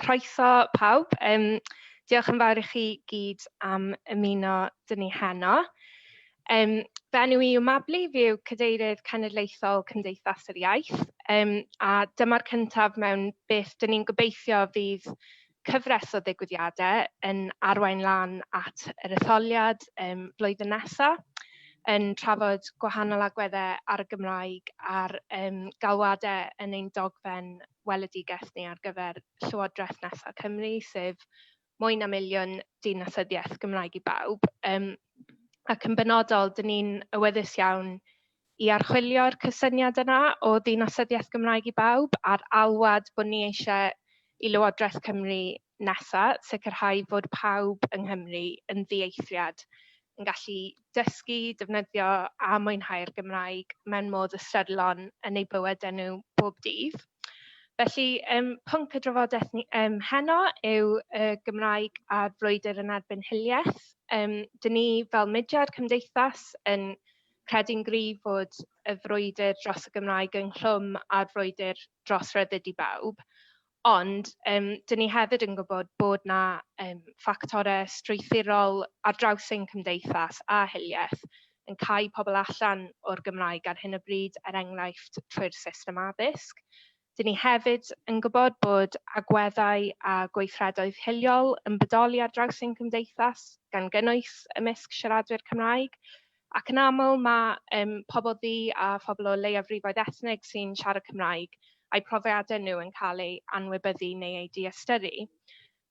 Croeso pawb. Um, diolch yn fawr i chi gyd am ymuno dyn ni heno. Um, fe enw i yw Mabli, fi yw Cadeirydd Cenedlaethol Cymdeithas yr Iaith, um, a dyma'r cyntaf mewn beth dyn ni'n gobeithio fydd cyfres o ddigwyddiadau yn arwain lan at yr etholiad um, flwyddyn nesaf yn trafod gwahanol agweddau ar y Gymraeg a'r um, galwadau yn ein dogfen weledigaeth ni ar gyfer Llywodraeth nesa' Cymru, sef mwy na miliwn dinasyddiaeth Gymraeg i bawb. Yym ac yn benodol, dyn ni'n awyddus iawn i archwilio'r cysyniad yna o ddinasyddiaeth Gymraeg i bawb a'r alwad bod ni eisiau i Lywodraeth Cymru nesa, sicrhau fod pawb yng Nghymru yn ddieithriad, yn gallu dysgu, defnyddio a mwynhau'r Gymraeg mewn modd ystyrlon yn eu bywydau nhw bob dydd. Felly, um, pwnc y drafodaeth ni um, heno yw y uh, Gymraeg a'r frwydr yn erbyn hiliaeth. Um, dyn ni fel mudiad cymdeithas yn credu'n gryf fod y frwydr dros y Gymraeg ynghlwm â'r frwydr dros ryddid i bawb. Ond yym dan ni hefyd yn gwybod bod 'na yym ffactorau strwythurol ar draws ein cymdeithas a hiliaeth yn cau pobl allan o'r Gymraeg ar hyn o bryd, er enghraifft trwy'r system addysg. Dan ni hefyd yn gwybod bod agweddau a gweithredoedd hiliol yn bodoli ar draws ein cymdeithas, gan gynnwys ymysg siaradwyr Cymraeg. Ac yn aml mae yym pobl ddu a phobl o leiafrifoedd ethnig sy'n siarad Cymraeg a'u profiadau nhw yn cael eu anwybyddu neu eu diystyru.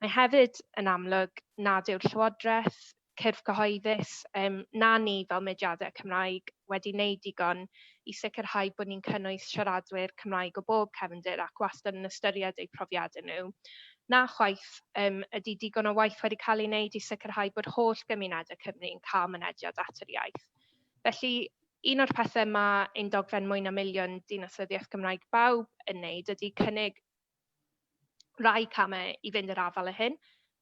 Mae hefyd yn amlwg nad yw'r Llywodraeth, cyrff cyhoeddus, yym na ni fel mudiadau Cymraeg wedi wneud digon i sicrhau bod ni'n cynnwys siaradwyr Cymraeg o bob cefndir ac wastad yn ystyried eu profiadau nhw. Na chwaith, um, ydy digon o waith wedi cael ei wneud i sicrhau bod holl gymunedau Cymru yn cael mynediad at yr iaith. Felly, un o'r pethau mae ein dogfen mwy na miliwn dinasyddiaeth Gymraeg bawb yn wneud ydy cynnig Rhai camau i fynd i'r afael â hyn,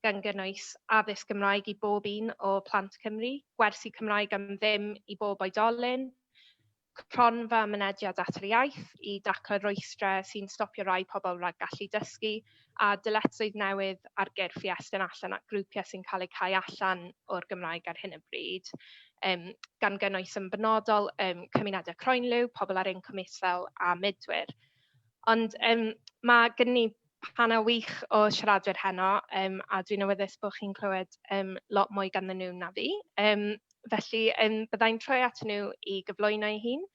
gan gynnwys addysg Gymraeg i bob un o plant Cymru, gwersi Cymraeg am ddim i bob oedolyn, cronfa mynediad at yr iaith i daclo'r rwystrau sy'n stopio rhai pobl rhag gallu dysgu, a dyletswydd newydd ar gyrff i estyn allan at grwpiau sy'n cael eu cau allan o'r Gymraeg ar hyn o bryd, um, gan gynnwys yn benodol um, cymunedau croenliw, pobl ar incwm isel a mudwyr. Ond yym ma' gynnon ni panel wych o siaradwyr heno, yym a dwi'n awyddus bod chi'n clywed yym lot mwy ganddyn nhw na fi, yym felly yym bydda i'n troi atyn nhw i gyflwyno'i hun,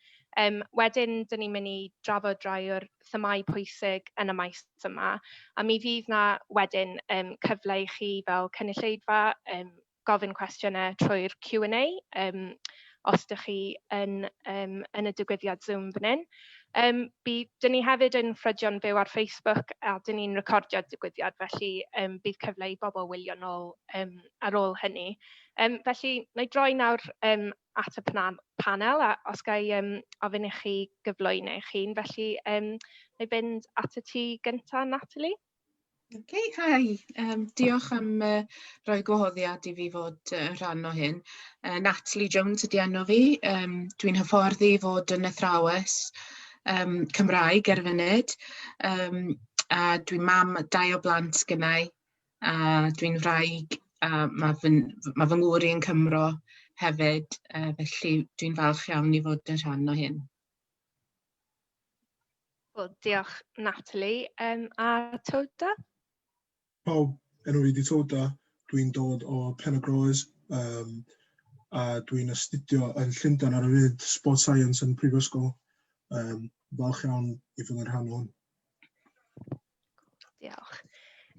yym wedyn dan ni'n mynd i drafod rai o'r themâu pwysig yn y maes yma, a mi fydd 'na wedyn yym cyfle i chi fel cynulleidfa yym gofyn cwestiynau trwy'r Q and A yym os ydych chi yn yym yn y digwyddiad Zoom fan hyn. Yym by- 'dyn ni hefyd yn ffrydio'n fyw ar Facebook a 'dyn ni'n recordio'r digwyddiad felly yym bydd cyfle i bobl wylio nôl yym ar ôl hynny. Yym felly wna i droi nawr yym at y pna- panel a os ga' i yym ofyn i chi gyflwyno eich hun felly yym wna i fynd atat ti gynta Natalie. Ok hi yym diolch am yy roi gwahoddiad i fi fod yy rhan o hyn. Yy Natalie Jones ydi enw fi yym dwi'n hyfforddi i fod yn athrawes yym Cymraeg ar y funud yym a dwi mam a dau o blant gynnai a dwi'n wraig a ma' fy n- f- ma' fy ngŵr i yn Cymro hefyd yy felly dwi'n falch iawn i fod yn rhan o hyn. Wel, diolch Natalie. Um, a Toda? Pawb, enw i di Toda. Dwi'n dod o Penagroes um, a dwi'n astudio yn Llundain ar y fyd Sport Science yn Prifysgol. Um, falch iawn i fod yn rhan o hwn. Diolch.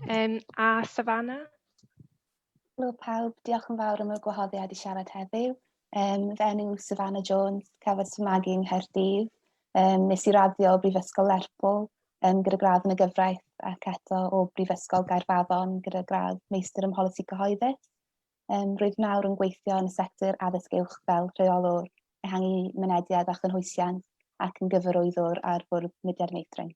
Um, a Savannah? Helo pawb, diolch yn fawr am y gwahoddiad i siarad heddiw. Um, fe enw Savannah Jones, cafodd fy magu yng Nghaerdydd. Um, nes i raddio o Brifysgol Lerpwl um, gyda gradd yn y gyfraith ac eto o Brifysgol Gaerfaddon gyda gradd meistr ym mholisi cyhoeddus. Um, rwyf nawr yn gweithio yn y sector addysg uwch fel rheolwr ehangu mynediad a chynhwysiant ac yn gyfarwyddwr ar fwrdd mudiad meithrin.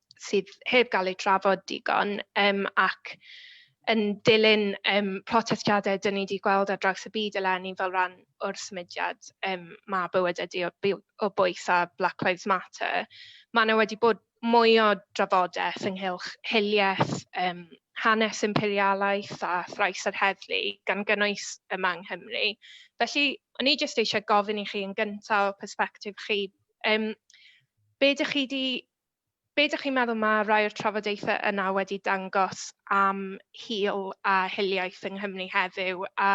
sydd heb gael eu trafod digon, yym ac yn dilyn yym protestiadau dan ni 'di gweld ar draws y byd eleni fel rhan o'r symudiad yym 'ma bywydau dy o by- o bwys' a 'Black Lives Matter', ma' 'na wedi bod mwy o drafodaeth ynghylch hiliaeth, yym hanes imperialaeth a thrais yr heddlu, gan gynnwys yma yng Nghymru. Felly, o'n i jyst eisiau gofyn i chi yn gyntaf, o persbectif chi, yym be dych chi 'di be ydych chi'n meddwl mae rhai o'r trafodaethau yna wedi dangos am hil a hiliaeth yng Nghymru heddiw a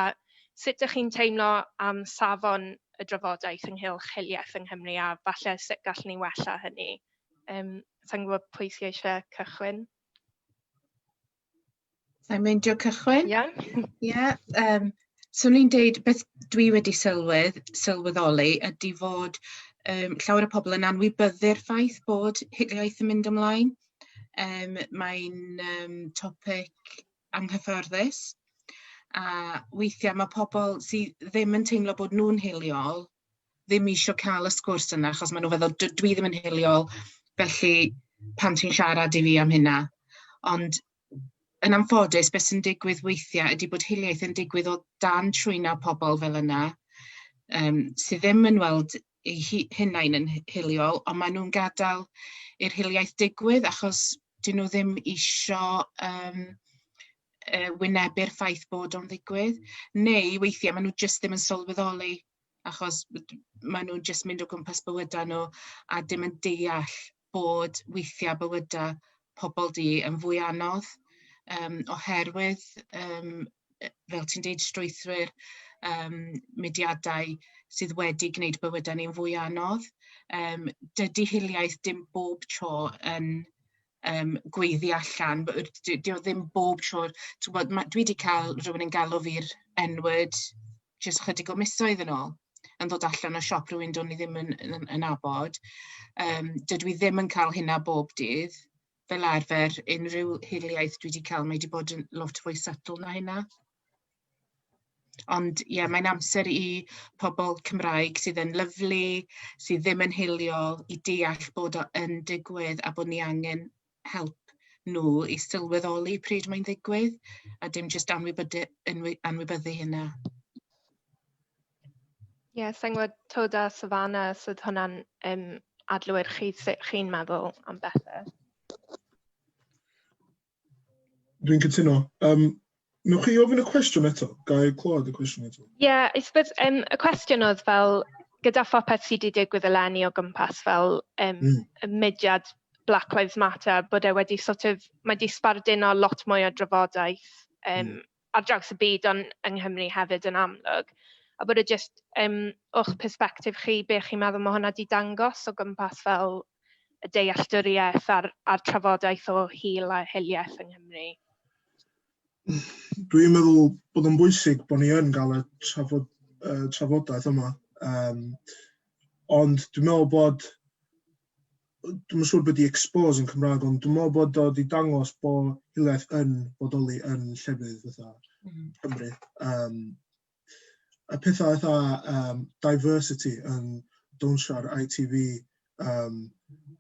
sut ydych chi'n teimlo am safon y drafodaeth ynghylch hiliaeth yng Nghymru a falle sut gallwn ni wella hynny? Um, sa'n gwybod pwy sy'n eisiau cychwyn? Sa i'n meindio cychwyn? Iawn. Ie yym so o'n i'n deud beth dwi wedi sylwedd sylweddoli ydi fod yym llawer o pobl yn anwybyddu'r ffaith bod hiliaeth yn mynd ymlaen. Yym mae'n yym topic anghyffyrddus a weithia' ma' pobl sy ddim yn teimlo bod nw'n hiliol ddim eisiau cael y sgwrs yna, achos maen nhw'n feddwl, dw, dwi ddim yn hiliol, felly pan ti'n siarad i fi am hynna. Ond yn anffodus, beth sy'n digwydd weithiau ydy bod hiliaeth yn digwydd o dan trwyna pobl fel yna, um, sydd ddim yn weld ei hunain yn hiliol, ond maen nhw'n gadael i'r hiliaeth digwydd achos dyn nhw ddim eisiau um, uh, wynebu'r ffaith bod o'n ddigwydd, neu weithiau maen nhw jyst ddim yn sylweddoli achos maen nhw'n jyst mynd o gwmpas bywydau nhw a dim yn deall bod weithiau bywydau pobl du yn fwy anodd um, oherwydd, um, fel ti'n deud, strwythwyr um, mudiadau sydd wedi gwneud bywydau ni'n fwy anodd. Um, dydy hiliaeth dim bob tro yn um, gweiddi allan. Dio ddim bob tro. Bod, ma, dwi wedi cael rhywun yn galw fi'r enwyd jyst chydig o misoedd yn ôl yn dod allan o siop rhywun do'n i ddim yn, yn, yn abod. Um, dydw i ddim yn cael hynna bob dydd. Fel arfer, unrhyw hiliaeth dwi wedi cael, mae wedi bod yn lot fwy subtle na hynna. Ond ie, yeah, mae'n amser i pobl Cymraeg sydd yn lyflu, sydd ddim yn hiliol, i deall bod o yn digwydd a bod ni angen help nhw i sylweddoli pryd mae'n ddigwydd, a dim jyst anwybyddu, anwybyddu hynna. Ie, yeah, sa'n gwybod tod a Savannah, os oedd hwnna'n um, adlywir chi, sut chi'n meddwl am bethau? Dwi'n cytuno. Um, Nwch chi ofyn y cwestiwn eto? Gael i clywed y cwestiwn eto? Ie, yeah, I suppose, um, y cwestiwn oedd fel, gyda phopeth sydd wedi digwydd eleni o gwmpas fel um, mm. y mudiad Black Lives Matter, bod e wedi sort of, mae wedi sbarduno lot mwy o drafodaeth um, mm. ar draws y byd ond yng Nghymru hefyd yn amlwg. A bod e jyst, um, o'ch perspektif chi, be chi'n meddwl mae hwnna wedi dangos o gwmpas fel y dealltwriaeth a'r, a'r trafodaeth o hil a hiliaeth yng Nghymru? Dwi'n meddwl bod o'n bwysig bod ni yn cael y trafod, uh, trafodaeth yma. Um, ond dwi'n meddwl bod dwi'n siŵr bod i expose yn Cymraeg, ond dwi'n meddwl bod o wedi dangos bod hiliaeth yn bodoli yn llefydd fatha mm. Cymru. Um, y pethau eitha um, diversity yn dawnsio ar ITV um,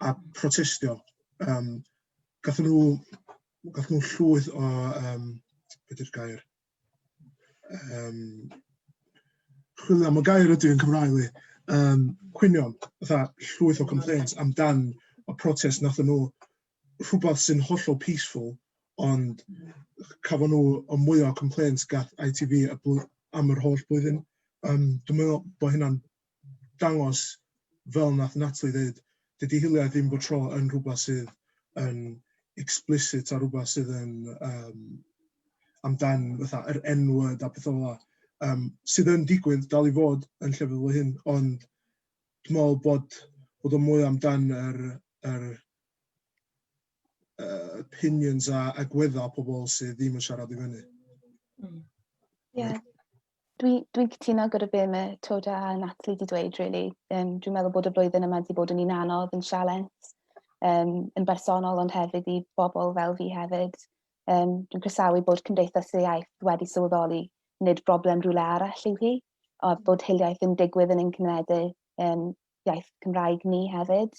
a protestio. Um, gathen nhw, gathen nhw llwyth o, um, beth yw'r gair? Um, chwilio am y gair ydy yn Cymraeg li. Um, cwynion, fatha llwyth o complaints amdan y protest nath nhw rhywbeth sy'n hollol peaceful ond cafon nhw y mwyaf o complaints gath ITV y blwy- am yr holl blwyddyn. Yym dwi'n meddwl bod hynna'n dangos fel wnaeth Natalie ddeud, dydy hiliaeth ddim bob tro yn rhywbeth sydd yn explicit a rhywbeth sydd yn yym amdan fatha yr N-word a pethau fel 'na yym sydd yn digwydd dal i fod yn llefydd fel hyn ond dwi'n meddwl bod bod o'n mwy amdan yr yr uh, opinions a agwedda pobl sydd ddim yn siarad i fyny. Mm. Yeah. Dwi'n dwi, cytuno gyda be mae Toda a Natalie wedi dweud, really. Um, dwi'n meddwl bod y blwyddyn yma wedi bod yn un anodd, yn sialens, um, yn bersonol ond hefyd i bobl fel fi hefyd. Um, dwi'n croesawu bod Cymdeithas y Iaith wedi sylweddoli nid broblem rhywle arall yw hi, a bod hiliaeth yn digwydd yn ein cyneddu um, iaith Cymraeg ni hefyd.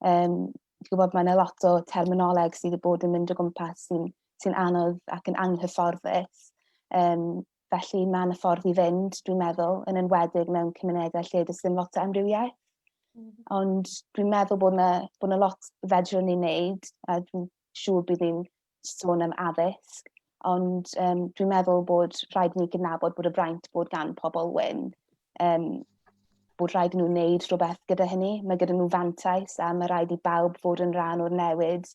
Um, Dwi'n gwybod mae yna lot o terminoleg sydd wedi bod yn mynd o gwmpas sy'n sy anodd ac yn anghyfforddus. Um, felly mae yna ffordd i fynd, dwi'n meddwl, yn enwedig mewn cymunedau lle does dim lot o amrywiaeth. Mm -hmm. Ond dwi'n meddwl bod yna, bod yna lot fedrwn ni'n neud a dwi'n siŵr bydd ni'n sôn am addysg, ond um, dwi'n meddwl bod rhaid ni gydnabod bod y fraint bod gan pobl wyn, um, bod rhaid nhw wneud rhywbeth gyda hynny. Mae gyda nhw fantais a mae rhaid i bawb fod yn rhan o'r newid.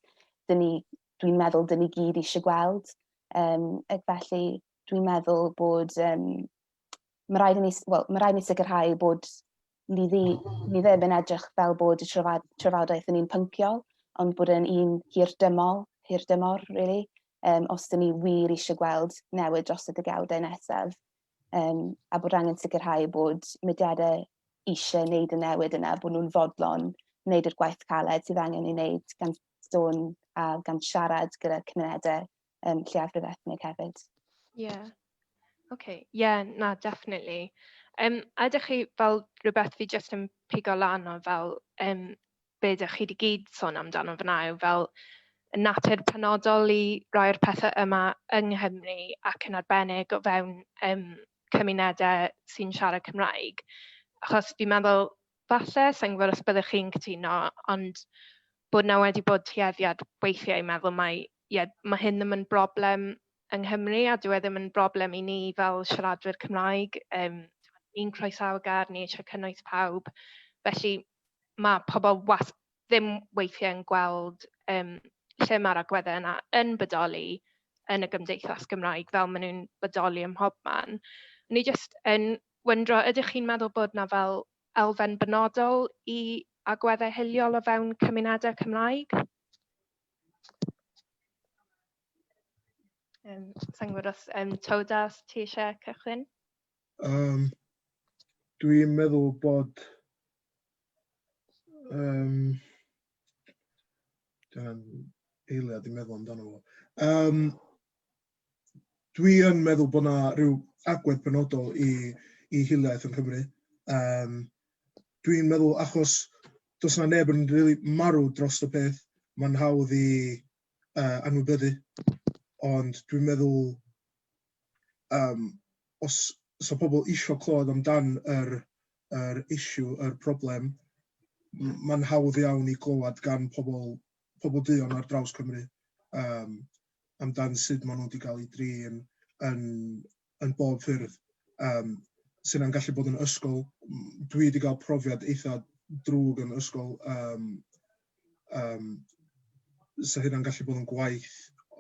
Dwi'n meddwl dyn ni gyd eisiau gweld. Um, ac felly dwi'n meddwl bod um, mae rhaid i ni, well, mae rhaid i ni sicrhau bod mi, ddi, mi ddim yn edrych fel bod y trafod, trafodaeth yn un pynciol, ond bod yn un hirdymol, hirdymor, really, um, os dyn ni wir eisiau gweld newid dros y degawdau nesaf, um, a bod angen sicrhau bod mudiadau eisiau wneud y newid yna, bod nhw'n fodlon wneud yr gwaith caled sydd angen ei wneud gan sôn a gan siarad gyda cymunedau um, lleiafrif ethnig hefyd. Ie. Yeah. OK, ie, yeah, na, definitely. Um, a ydych chi fel rhywbeth fi jyst yn pigo lan o fel um, be ydych chi wedi gyd sôn amdano fyna yw fel natur penodol i rai'r pethau yma yng Nghymru ac yn arbennig o fewn um, cymunedau sy'n siarad Cymraeg. Achos fi'n meddwl, falle, sa'n gwybod os byddwch chi'n cytuno, ond bod 'na wedi bod tueddiad weithiau i meddwl mai, ie, ma' hyn ddim yn broblem yng Nghymru a dyw e ddim yn broblem i ni fel siaradwyr Cymraeg, yym ni'n croesawu gair, ni eisiau cynnwys pawb, felly ma' pobl was- ddim weithiau yn gweld yym lle ma'r agweddau yna yn bodoli yn y gymdeithas Gymraeg fel ma' nhw'n bodoli ym mhobman. O'n i jyst yn wyndro, ydych chi'n meddwl bod 'na fel elfen benodol i agweddau hiliol o fewn cymunedau Cymraeg. Um, Sa'n gwybod os um, Todas, ti eisiau cychwyn? Um, Dwi'n meddwl bod um, dwi'n eiliad i meddwl amdano fo. Um, dwi yn meddwl bod 'na ryw agwedd penodol i i hiliaeth yng Nghymru. Yym dwi'n meddwl achos does 'na neb yn rili marw dros y peth, mae'n hawdd i uh, anwybyddu, ond dwi'n meddwl um, os so pobl eisiau clywed amdan yr, yr issue, yr problem, mae'n hawdd iawn i glywed gan pobl pobl duon ar draws Cymru um, amdan sut maen nhw wedi cael eu drin yn, yn bob ffyrdd, um, sy'n yna'n gallu bod yn ysgol. Dwi wedi cael profiad eitha drwg yn ysgol, um, um, sy'n hynna'n gallu bod yn gwaith,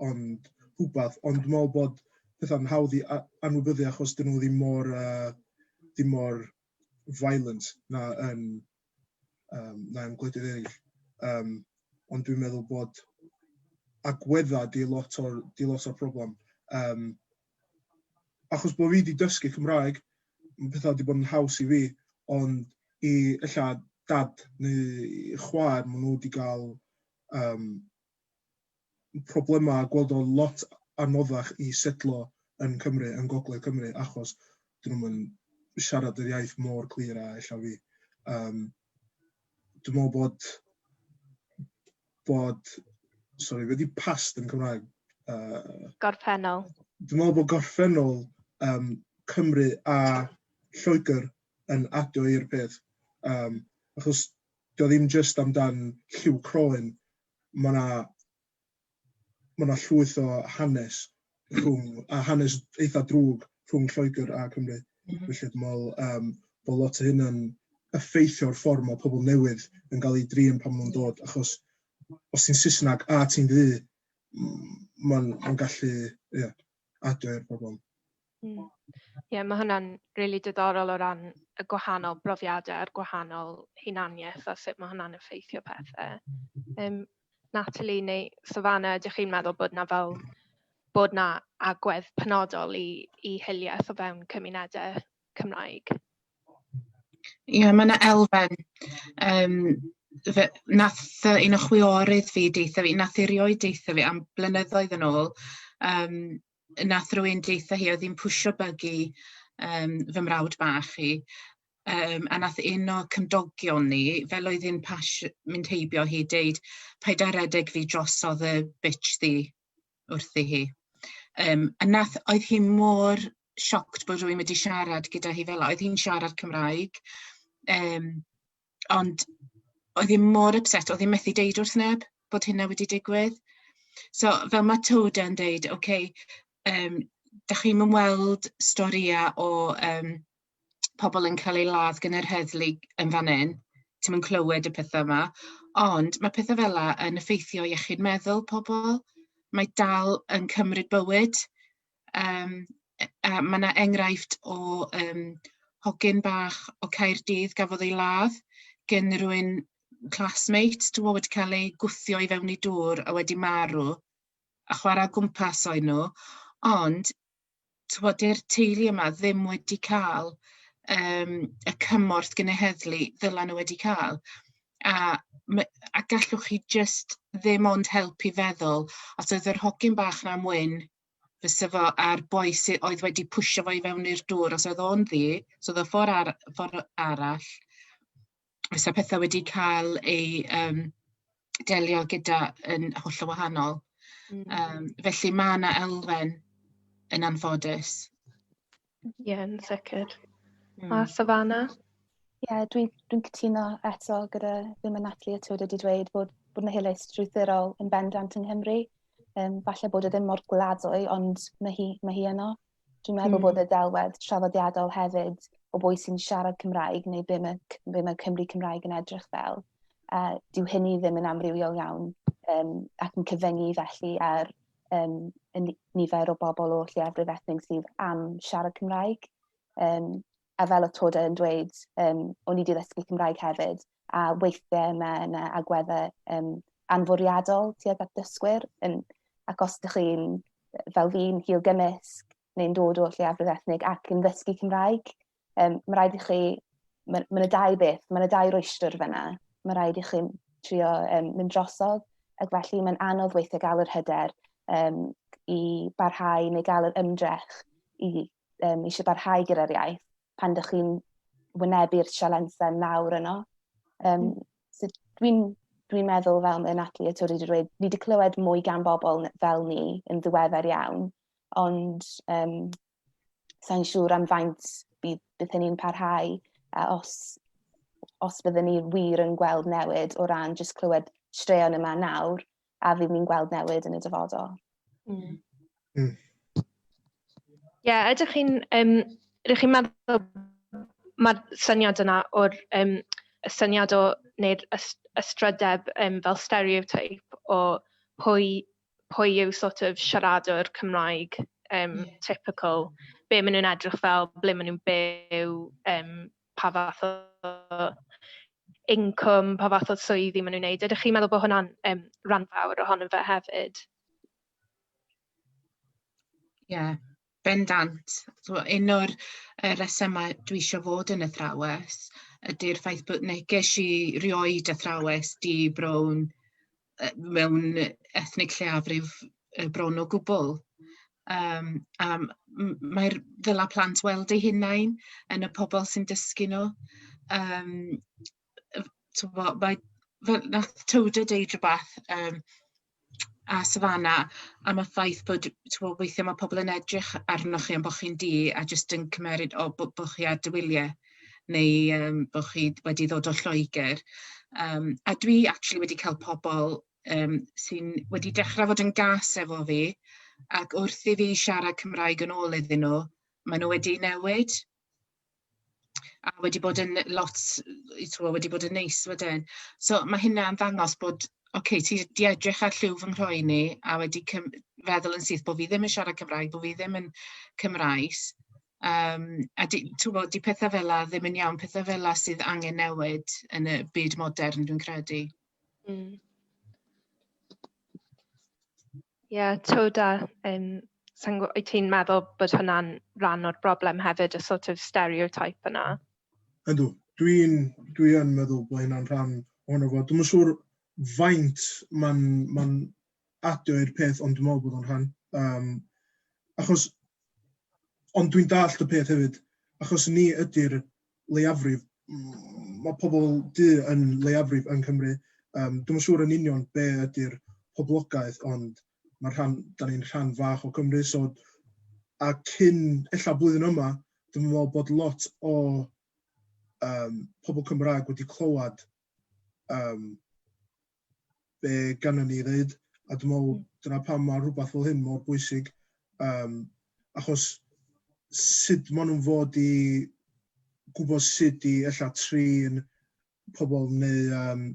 ond rhywbeth, ond dwi'n meddwl bod pethau'n hawdd i anwybyddu achos dyn nhw ddim mor, uh, ddim mor violent na yn, um, na yn gwledydd eraill. Um, ond dwi'n meddwl bod agwedda di lot o'r, di lot o'r problem. Um, achos bod fi wedi dysgu Cymraeg, mae pethau wedi bod yn haws i fi, ond i illa dad neu chwaer, maen nhw wedi cael um, problemau a gweld o'n lot anoddach i setlo yn Cymru, yn Gogledd Cymru, achos dyn nhw'm yn siarad yr iaith mor clir a ella fi. Yym, dwi'n meddwl bod, bod, sorry, wedi past yn Cymraeg. Uh, gorffennol. Dwi'n meddwl bod gorffennol um, Cymru a Lloegr yn adio i'r peth. Um, achos 'di o ddim jyst amdan lliw croen, ma' 'na ma' 'na llwyth o hanes rhwng a hanes eitha drwg rhwng Lloegr a Cymru. Mm -hmm. Felly dwi'n meddwl um, bod lot o hyn yn effeithio'r ffordd mae pobl newydd yn cael eu drin pan nhw'n dod, achos os ti'n Saesneg a ti'n ddu, mae'n ma gallu, ie, yeah, adre i'r pobl. Mm. Ie, mae hwnna'n rili really diddorol o ran y gwahanol brofiadau a'r gwahanol hunaniaeth a sut mae hwnna'n effeithio pethau. Um, Natalie neu Savannah, ydych chi'n meddwl bod na fel bod na agwedd penodol i, i hiliaeth o fewn cymunedau Cymraeg. Ie, mae yna elfen. Um, fe, nath un o chwiorydd fi deitha fi, nath erioed deitha fi am blynyddoedd yn ôl, um, nath rwy'n deitha hi oedd hi'n pwysio bygu um, fy mrawd bach i, um, a nath un o cymdogion ni, fel oedd hi'n mynd heibio hi, deud, paid â redeg fi drosodd y bitch ddi, wrthi hi. Um, a nath, oedd hi mor sioct bod rwy'n wedi siarad gyda hi fel Oedd hi'n siarad Cymraeg. Um, ond oedd hi mor upset, oedd hi'n methu deud wrth neb bod hynna wedi digwydd. So, fel mae Toda yn deud, oce, okay, um, da chi'n ymweld storïau o um, pobl yn cael eu ladd gan yr heddlu yn fan hyn, ti'n mynd clywed y pethau yma, ond mae pethau fel yna yn effeithio iechyd meddwl pobl, mae dal yn cymryd bywyd. Um, a mae yna enghraifft o um, hogyn bach o Caerdydd gafodd ei ladd gen rwy'n classmate, dwi'n meddwl wedi cael ei gwthio i fewn i dŵr a wedi marw, a chwarae gwmpas o'i nhw, ond tibod, dyw'r teulu yma ddim wedi cael yym y cymorth genhedlu ddylen nhw wedi cael. A ma' a gallwch chi jyst ddim ond helpu feddwl os oedd yr hogyn bach 'na'n wyn fysa fo a'r boi sy oedd wedi pwysio fo i fewn i'r dŵr os oedd o'n ddu, so oedd o ffor' ar- ffor' arall fysa petha wedi ca'l eu yym delio gyda yn hollol wahanol. Hmm. Yym felly ma' 'na elfen yn anffodus. Ie yn sicr. Hmm. A Savannah? Ie yeah, dwi'n dwi cytuno eto gyda ddim yn Natalie a Tywed wedi dweud bod bod 'na hiliaeth strwythurol yn bendant yng Nghymru. Um, falle bod e ddim mor gwladwy ond mae hi mae hi yno. Dwi'n meddwl mm. bod y delwedd traddodiadol hefyd o bwy sy'n siarad Cymraeg neu be mae, be mae Cymru Cymraeg yn edrych fel. Uh, dyw hynny ddim yn amrywiol iawn um, ac yn cyfyngu felly ar um, nifer o bobl o lleiafrif ethnig sydd am siarad Cymraeg. Um, a fel oedd Toda yn dweud, um, o'n i wedi ddysgu Cymraeg hefyd, a weithiau mae yna agweddau um, anfwriadol tuag at dysgwyr, yn, ac os ydych chi'n, fel fi'n, hil gymysg, neu'n dod o lleiafrif ethnig ac yn ddysgu Cymraeg, um, mae rhaid i chi, mae ma yna dau beth, mae yna dau rwystr fyna, mae rhaid i chi trio um, mynd drosodd, ac felly mae'n anodd weithiau gael yr hyder um, i barhau neu gael yr ymdrech i um, eisiau barhau gyda'r iaith pan ydych chi'n wynebu'r sialensau mawr yno. Um, so dwi'n dwi meddwl fel mae Natalie a Tori wedi dweud, ni wedi clywed mwy gan bobl fel ni yn ddiweddar iawn, ond um, sa'n siŵr am faint bydd, bydd hynny'n parhau a os, os byddwn ni wir yn gweld newid o ran jyst clywed straeon yma nawr, a fydd ni'n gweld newid yn y dyfodol. Mm. Mm. yeah, ydych chi'n um, ydych chi'n meddwl mae'r syniad yna o'r um, y syniad o neu'r ystrydeb um, fel stereotype o pwy, pwy yw sort of siaradwr Cymraeg um, yeah. typical, be maen nhw'n edrych fel, ble maen nhw'n byw, um, pa fath o incwm, pa fath o swyddi maen nhw'n wneud. Ydych chi'n meddwl bod hwnna'n um, rhan fawr ohono fe hefyd? Ie, yeah, bendant. So, un o'r uh, resymau dwi eisiau fod yn athrawes ydy'r ffaith bod neges i rioed athrawes di brown yy mewn yy ethnig lleiafrif yy bron o gwbwl, yym a m- m- mae'r ddylai plant weld eu hunain yn y pobol sy'n dysgu nw yym yy t'wbo mae fe- nath Tilda deud rwbath yym a Savannah am y ffaith bod t'mo' weithie ma' pobol yn edrych arnoch chi am bo' chi'n du a jyst yn cymeryd o bo' bo' chi ar dy wylie. neu yym bod chi wedi dod o Lloegr yym a dwi actually wedi cael pobl yym sy'n wedi dechrau fod yn gas efo fi ac wrth i fi siarad Cymraeg yn ôl iddyn nhw, maen nhw wedi newid a wedi bod yn lot tibod wedi bod yn neis wedyn. So mae hynna'n ddangos bod ok ti 'di edrych ar lliw fy nghroen i a wedi cym- feddwl yn syth bod fi ddim yn siarad Cymraeg, bod fi ddim yn Cymraes. Yym a di- tibod, 'di pethe fela ddim yn iawn. Pethe fela sydd angen newid yn y byd modern, dwi'n credu. Mm. Ie, twd a yym sa i'n gw- wyt ti'n meddwl bod hwnna'n rhan o'r broblem hefyd, y sort of stereotype yna? Ydw, dwi'n dwi yn meddwl bod hynna'n rhan ohono fo. Dwi'm yn siŵr faint mae'n mae'n adio i'r peth ond dwi'n meddwl bod o'n rhan um, achos ond dwi'n dallt y peth hefyd achos ni ydy'r leiafrif mm, mae pobl du yn leiafrif yng Nghymru um, dwi'n siŵr yn union be ydy'r poblogaeth ond mae rhan, da ni'n rhan fach o Cymru so a cyn ella blwyddyn yma dwi'n meddwl bod lot o um, pobl Cymraeg wedi clywed um, be gannon ni ddeud, a dwi'n meddwl hmm. dyna pam mae rhywbeth fel hyn mor bwysig, um, achos sut maen nhw'n fod i gwybod sut i ella trin pobl neu, um,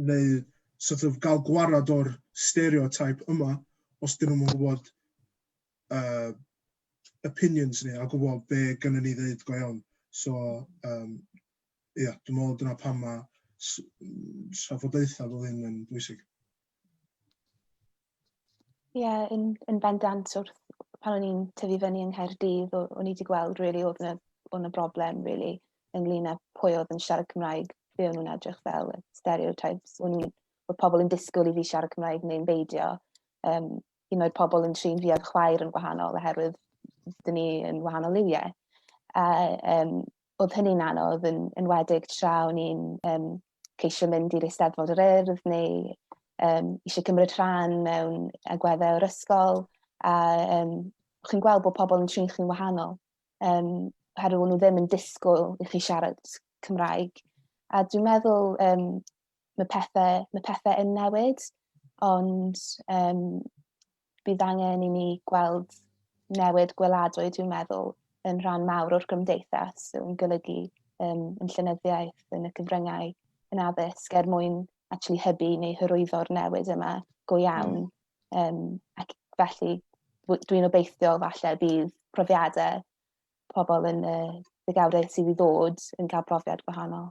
neu sort of gael gwarad o'r stereotype yma os dyn nhw'n gwybod uh, opinions ni a gwybod be gynnu ni ddeud go iawn. So, um, ia, dwi'n meddwl dyna pam mae trafodaethau fel hyn yn bwysig. Ie, yeah, yn, yn bendant wrth pan o'n i'n tyfu fyny yng Nghaerdydd, o'n i wedi gweld really, oedd yna, oedd yna broblem really, ynglyn â pwy oedd yn siarad Cymraeg, be o'n nhw'n edrych fel, stereotypes, o'n nhw'n, oedd pobl yn disgwyl i fi siarad Cymraeg neu'n beidio. Um, un oed pobl yn trin fi a'r chwaer yn wahanol oherwydd dyn ni yn wahanol liwiau. A um, oedd hynny'n anodd, yn enwedig tra o'n i'n um, ceisio mynd i'r Eisteddfod yr Urdd neu um, eisiau cymryd rhan mewn agweddau o'r ysgol. A um, chi'n gweld bod pobl yn trin chi'n wahanol, um, oherwydd nhw ddim yn disgwyl i chi siarad Cymraeg. A dwi'n meddwl um, mae, pethau, mae pethau yn newid, ond um, bydd angen i ni gweld newid gweladwy, dwi'n meddwl, yn rhan mawr o'r gymdeithas, yn golygu um, yn llynyddiaeth, yn y cyfryngau, yn addysg, er mwyn actually hybu neu hyrwyddo'r newid yma go iawn. Mm. Um, ac felly, dwi'n obeithio falle bydd profiadau pobl yn y ddegawdau sydd i ddod yn cael profiad gwahanol.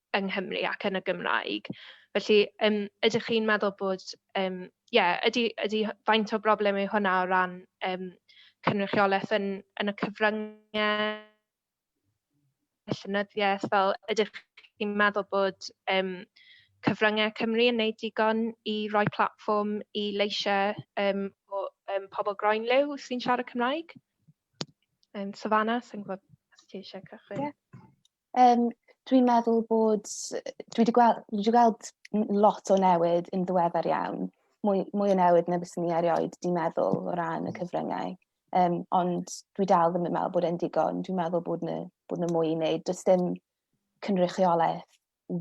yng Nghymru ac yn y Gymraeg. Felly yym ydych chi'n meddwl bod yym ie ydy ydy faint o broblem yw hwnna o ran yym cynrychiolaeth yn yn y cyfryngau llenyddiaeth fel ydych chi'n meddwl bod yym cyfryngau Cymru yn wneud digon i roi platfform i leisiau yym o yym pobl groenliw sy'n siarad Cymraeg? Yym Savannah, sa i'n gwybod os ti eisiau cychwyn? Ie. Um, dwi'n meddwl bod... Dwi wedi gweld, dwi wedi gweld lot o newid yn ddiweddar iawn. Mwy, mwy o newid na fyswn ni erioed di meddwl o ran y hmm. cyfryngau. Um, ond dwi dal ddim yn meddwl bod e'n digon. Dwi'n meddwl bod yna, bod yna mwy i wneud. Does dim cynrychiolaeth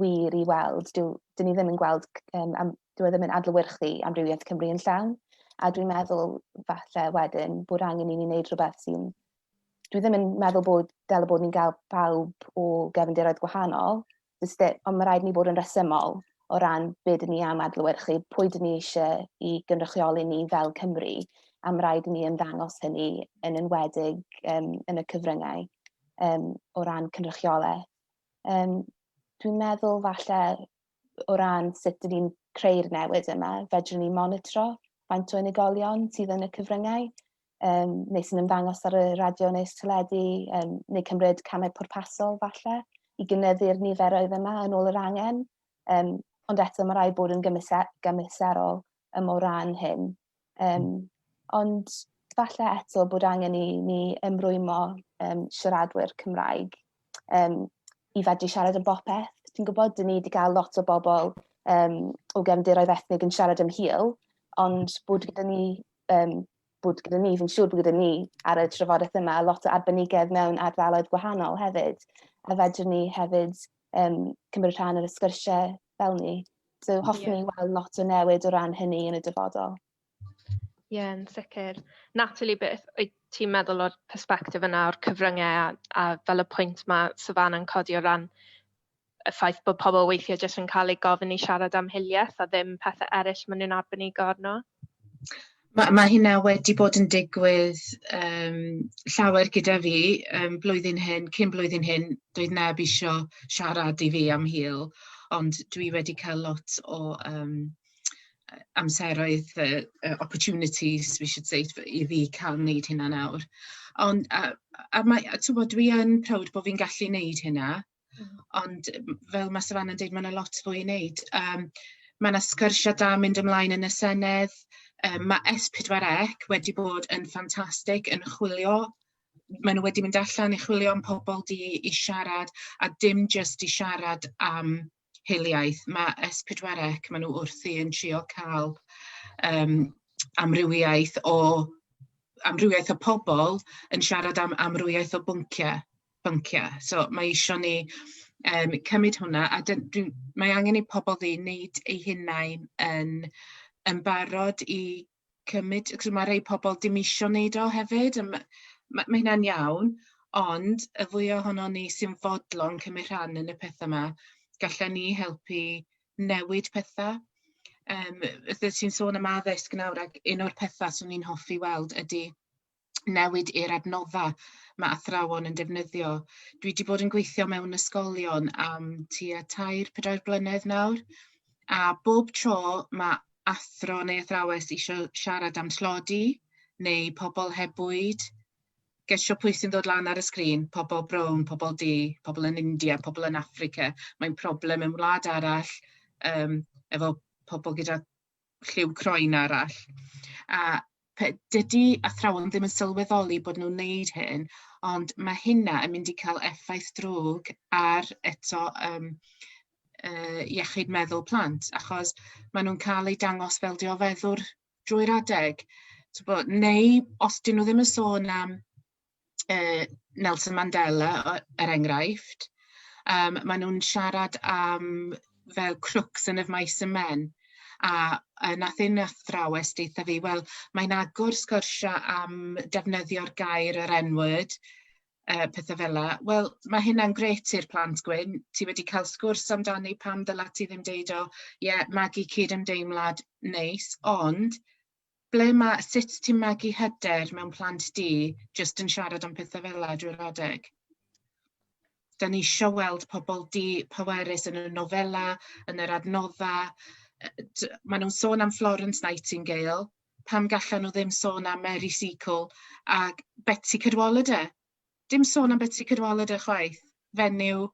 wir i weld. Dwi, dyn ni ddim yn gweld, um, am, dwi e ddim yn adlywyrchu amrywiaeth Cymru yn llawn. A dwi'n meddwl falle wedyn bod angen i ni wneud rhywbeth sy'n dwi ddim yn meddwl bod fel y bod ni'n cael pawb o gefndiroedd gwahanol, ond mae rhaid ni bod yn resymol o ran beth dyn ni am adlywyrchu, pwy dyn ni eisiau i gynrychioli ni fel Cymru, a mae rhaid ni ymddangos hynny yn enwedig um, yn y cyfryngau um, o ran cynrychiolaeth. Um, dwi'n meddwl falle o ran sut dyn ni'n creu'r newid yma, fedrwn ni monitro faint o unigolion sydd yn y cyfryngau, um, neu sy'n ymddangos ar y radio neu teledu, um, neu cymryd camau pwrpasol falle i gynyddu'r niferoedd yma yn ôl yr angen. Um, ond eto mae rai bod yn gymhwysa- gymhwyserol um, o ran hyn. Um, ond falle eto bod angen i ni ymrwymo um, siaradwyr Cymraeg um, i fedru siarad yn bopeth. Ti'n gwybod, dyn ni wedi cael lot o bobl um, o gefndiroedd ethnig yn siarad yn hil, ond bod gyda ni um, bod gyda ni, fi'n siŵr bod gyda ni ar y trafodaeth yma lot o arbenigedd mewn ardaloedd gwahanol hefyd, a fedrwn ni hefyd um, cymryd rhan ar y sgyrsiau fel ni. So hoffwn yeah. ni weld lot o newid o ran hynny yn y dyfodol. Ie, yeah, yn sicr. Natalie, beth wyt ti'n meddwl o'r perspektif yna o'r cyfryngau a, a fel y pwynt mae Savannah'n codi o ran y ffaith bod pobl weithiau jyst yn cael eu gofyn i siarad am hiliaeth a ddim pethau eraill maen nhw'n arbenigo arno? Ma' ma' hynna wedi bod yn digwydd yym llawer gyda fi yym blwyddyn hyn, cyn blwyddyn hyn, doedd neb isio siarad i fi am hil, ond dwi wedi cael lot o yym yy amseroedd yy yy opportunities we should say i fi cael wneud hynna nawr. Ond a a mae a timod dwi yn proud bod fi'n gallu wneud hynna. Ond fel mae Savannah'n deud, mae 'na lot fwy i wneud. Yym mae 'na sgyrsiau da yn mynd ymlaen yn y Senedd, yym ma' S4C wedi bod yn ffantastig yn chwilio, maen nhw wedi mynd allan i chwilio am pobl du i siarad, a dim jyst i siarad am hiliaeth, ma' S4C, maen nhw wrthi yn trio cael yym amrywiaeth o amrywiaeth o pobl yn siarad am amrywiaeth o bynciau. bynciau. So mae eisiau ni um, cymryd hwnna a dyn, dyn, mae angen i pobl ddi wneud eu hunain yn, yn barod i cymryd, cos mae rhai pobl dim eisiau wneud o hefyd, a mae, mae, mae hynna'n iawn, ond y fwy ohono ni sy'n fodlon cymryd rhan yn y pethau yma, gallan ni helpu newid pethau. Um, Ydych ti'n sôn am addysg nawr ac un o'r pethau swn i'n hoffi weld ydy newid i'r adnoddau mae athrawon yn defnyddio. Dwi wedi bod yn gweithio mewn ysgolion am tua tair, pedair blynedd nawr, a bob tro mae athro neu athrawes eisiau siarad am tlodi neu pobl heb bwyd, gesio pwy sy'n dod lan ar y sgrin, pobl brown, pobl du, pobl yn India, pobl yn Africa, mae'n problem yn wlad arall um, efo pobl gyda lliw croen arall. A dydy athrawon ddim yn sylweddoli bod nhw'n wneud hyn, ond mae hynna yn mynd i cael effaith drwg ar eto um, uh, iechyd meddwl plant, achos maen nhw'n cael eu dangos fel diofeddwr drwy'r adeg. So, bod, neu os dyn nhw ddim yn sôn am uh, Nelson Mandela, er enghraifft. Um, maen nhw'n siarad am fel crooks yn y maes y men. A uh, nath un athrawes deitha fi, wel, mae'n agor sgyrsiau am defnyddio'r gair yr N-word, uh, pethau fel la. Wel, mae hynna'n gret i'r plant gwyn. Ti wedi cael sgwrs amdani pam ddyla ti ddim deud o, ie, yeah, magu cyd ymdeimlad neis, ond ble ma'... Sut ti'n magu hyder mewn plant di jyst yn siarad am pethau fel 'na, drwy'r adeg? Da ni isio weld pobl di-pwerus yn y nofelau, yn yr adnoddau. Yy t- Maen nhw'n sôn am Florence Nightingale, pam gallan nhw ddim sôn am Mary Seacole ac Betsi Cadwaladr? dim sôn am Betsi Cadwaladr chwaith, fenyw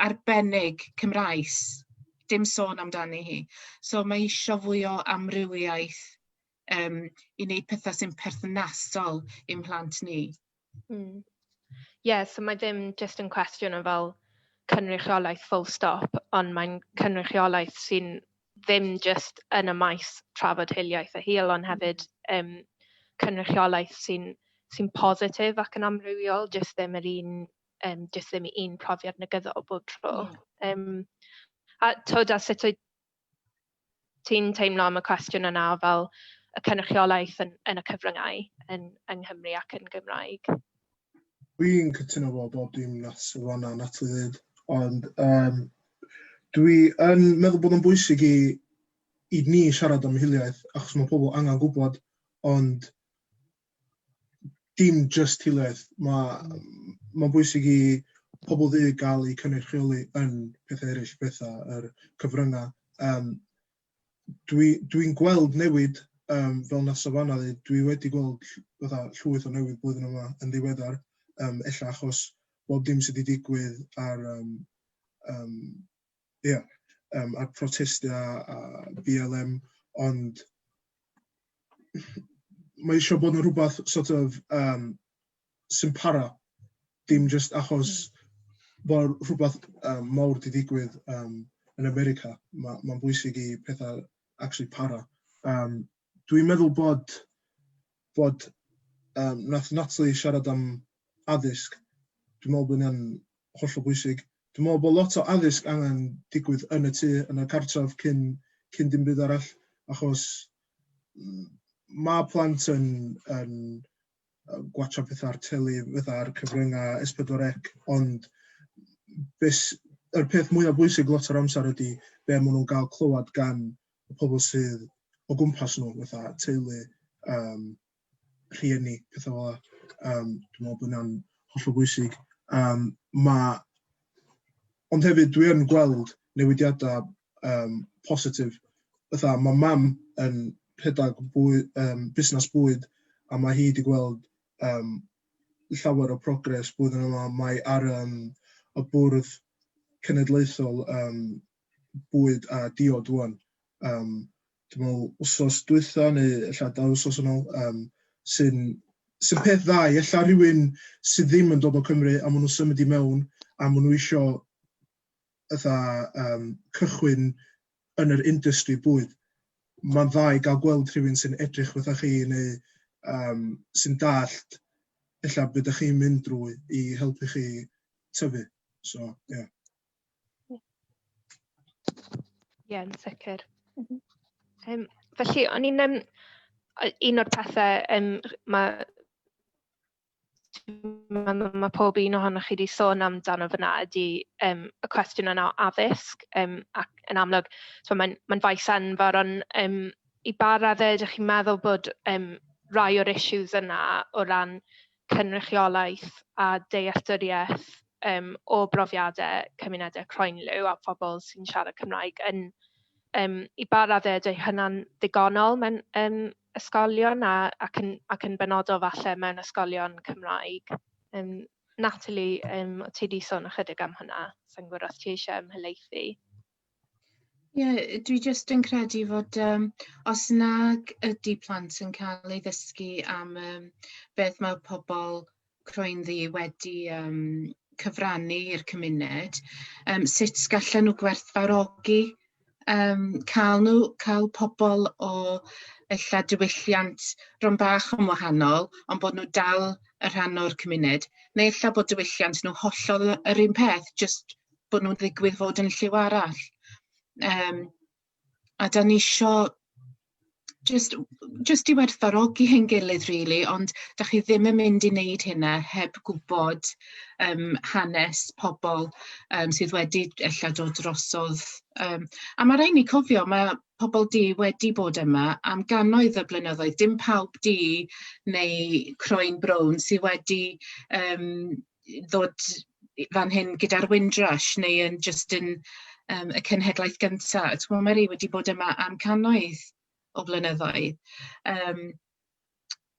arbennig Cymraes, dim sôn amdani hi. So mae isio fwy o amrywiaeth um, i wneud pethau sy'n perthnasol i'm mhlant ni. Mm. yeah, so mae ddim just yn cwestiwn o fel cynrychiolaeth full stop, ond mae'n cynrychiolaeth sy'n ddim jyst yn y maes trafod hiliaeth a hil, ond hefyd um, cynrychiolaeth sy'n sy'n positif ac yn amrywiol, jyst ddim yr un, um, jyst ddim un profiad negyddol bob tro. Um, a tyd, a sut wyt ti'n teimlo am y cwestiwn yna fel y cynrychiolaeth yn, yn y cyfryngau yn, yng Nghymru ac yn Gymraeg? Dwi'n cytuno efo bob dim nath Siwan a Natalie ddeud ond yym dwi yn meddwl bod o'n bwysig i i ni siarad am hiliaeth achos ma' pobl angan gwbod ond dim jyst hiliaeth ma' ma'n bwysig i pobl ddu ga'l eu cynnyrchioli yn pethe eryll, petha yr cyfrynga yym dwi dwi'n gweld newid um, fel na Savannah ddeud, dwi wedi gweld fatha llwyth o newid blwyddyn yma yn ddiweddar, um, ella achos bob dim sydd wedi digwydd ar, um, um, yeah, um, ar protestau a, a BLM, ond mae eisiau bod yn rhywbeth sort of um, sy'n para, dim jyst achos bod rhywbeth um, mawr wedi digwydd um, yn America. Mae'n ma bwysig i pethau actually para. Um, Dwi'n meddwl bod, bod um, nath Natalie siarad am addysg. Dwi'n meddwl bod hynny'n hollol bwysig. Dwi'n meddwl bod lot o addysg angen digwydd yn y tŷ, yn y cartref cyn, cyn dim byd arall, achos mm, mae plant yn, yn gwatsio pethau ar teli fydda'r cyfryngau S4C, ond beth, yr peth mwyaf bwysig lot o'r amser ydy be maen nhw'n gael clywed gan y pobl sydd o gwmpas nhw, fatha teulu, um, rhieni, pethau fel yna. Um, dwi'n meddwl bod yna'n hollol bwysig. Um, mae... Ond hefyd, dwi yn gweld newidiadau yym positif. Fatha ma' mam yn rhedeg bwy- yym busnes bwyd a ma' hi 'di gweld yym llawer o progres blwyddyn yma, mae ar yym y bwrdd cenedlaethol yym bwyd a diod ŵan yym dwi'n meddwl wsos dwytha neu ella dau wsos yn ôl yym sy'n sy'n peth dda i ella rywun sydd ddim yn dod o Cymru a maen nhw'n symud i mewn a maen nhw isio fatha um, cychwyn yn yr industry bwyd, mae'n dda i gael gweld rhywun sy'n edrych fatha chi neu um, sy'n dallt illa beth ydych chi'n mynd drwy i helpu chi tyfu. So, ie. Yeah. Ie, yeah, yn sicr. Mm -hmm. um, felly, o'n i'n... Um, un o'r pethau um, mae mae pob un ohonoch chi wedi sôn amdano fyna ydy um, y cwestiwn yna o addysg um, ac yn amlwg so mae'n mae faes anfawr ond um, i ba raddau ydych chi'n meddwl bod um, rai o'r issues yna o ran cynrychiolaeth a dealltwriaeth yym o brofiadau cymunedau croenliw a phobl sy'n siarad Cymraeg yn yym i ba raddau ydy hynna'n ddigonol mewn yym ysgolion a ac yn ac yn benodol falle mewn ysgolion Cymraeg? Yym Natalie yym o ti 'di sôn ychydig am hwnna, sa i'n gwbod os ti eisiau ymhelaethu? Ie, yy dwi jyst yn credu fod yym os nag ydi plant yn ca'l ei ddysgu am yym beth ma' pobol croenddu wedi yym cyfrannu i'r cymuned yym sut gallan nw gwerthfawrogi yym ca'l nw ca'l pobol o ella diwylliant bron bach yn wahanol on' bod nw dal y rhan o'r cymuned neu ella bod diwylliant nw hollol yy yr un peth jyst bod nhw'n ddigwydd fod yn lliw arall. Um, a da ni isio just, just i werthfarogi hyn gilydd, really, ond da chi ddim yn mynd i wneud hynna heb gwybod um, hanes pobl um, sydd wedi ella dod drosodd. Um, a mae rhaid ni cofio, mae pobl di wedi bod yma am gannoedd y blynyddoedd. Dim pawb di neu croen brown sydd wedi um, ddod fan hyn gyda'r Windrush neu yn jyst yn um, y cenhedlaeth gyntaf. Ti'n gwybod, mae rhi wedi bod yma am cannoedd o flynyddoedd. Um,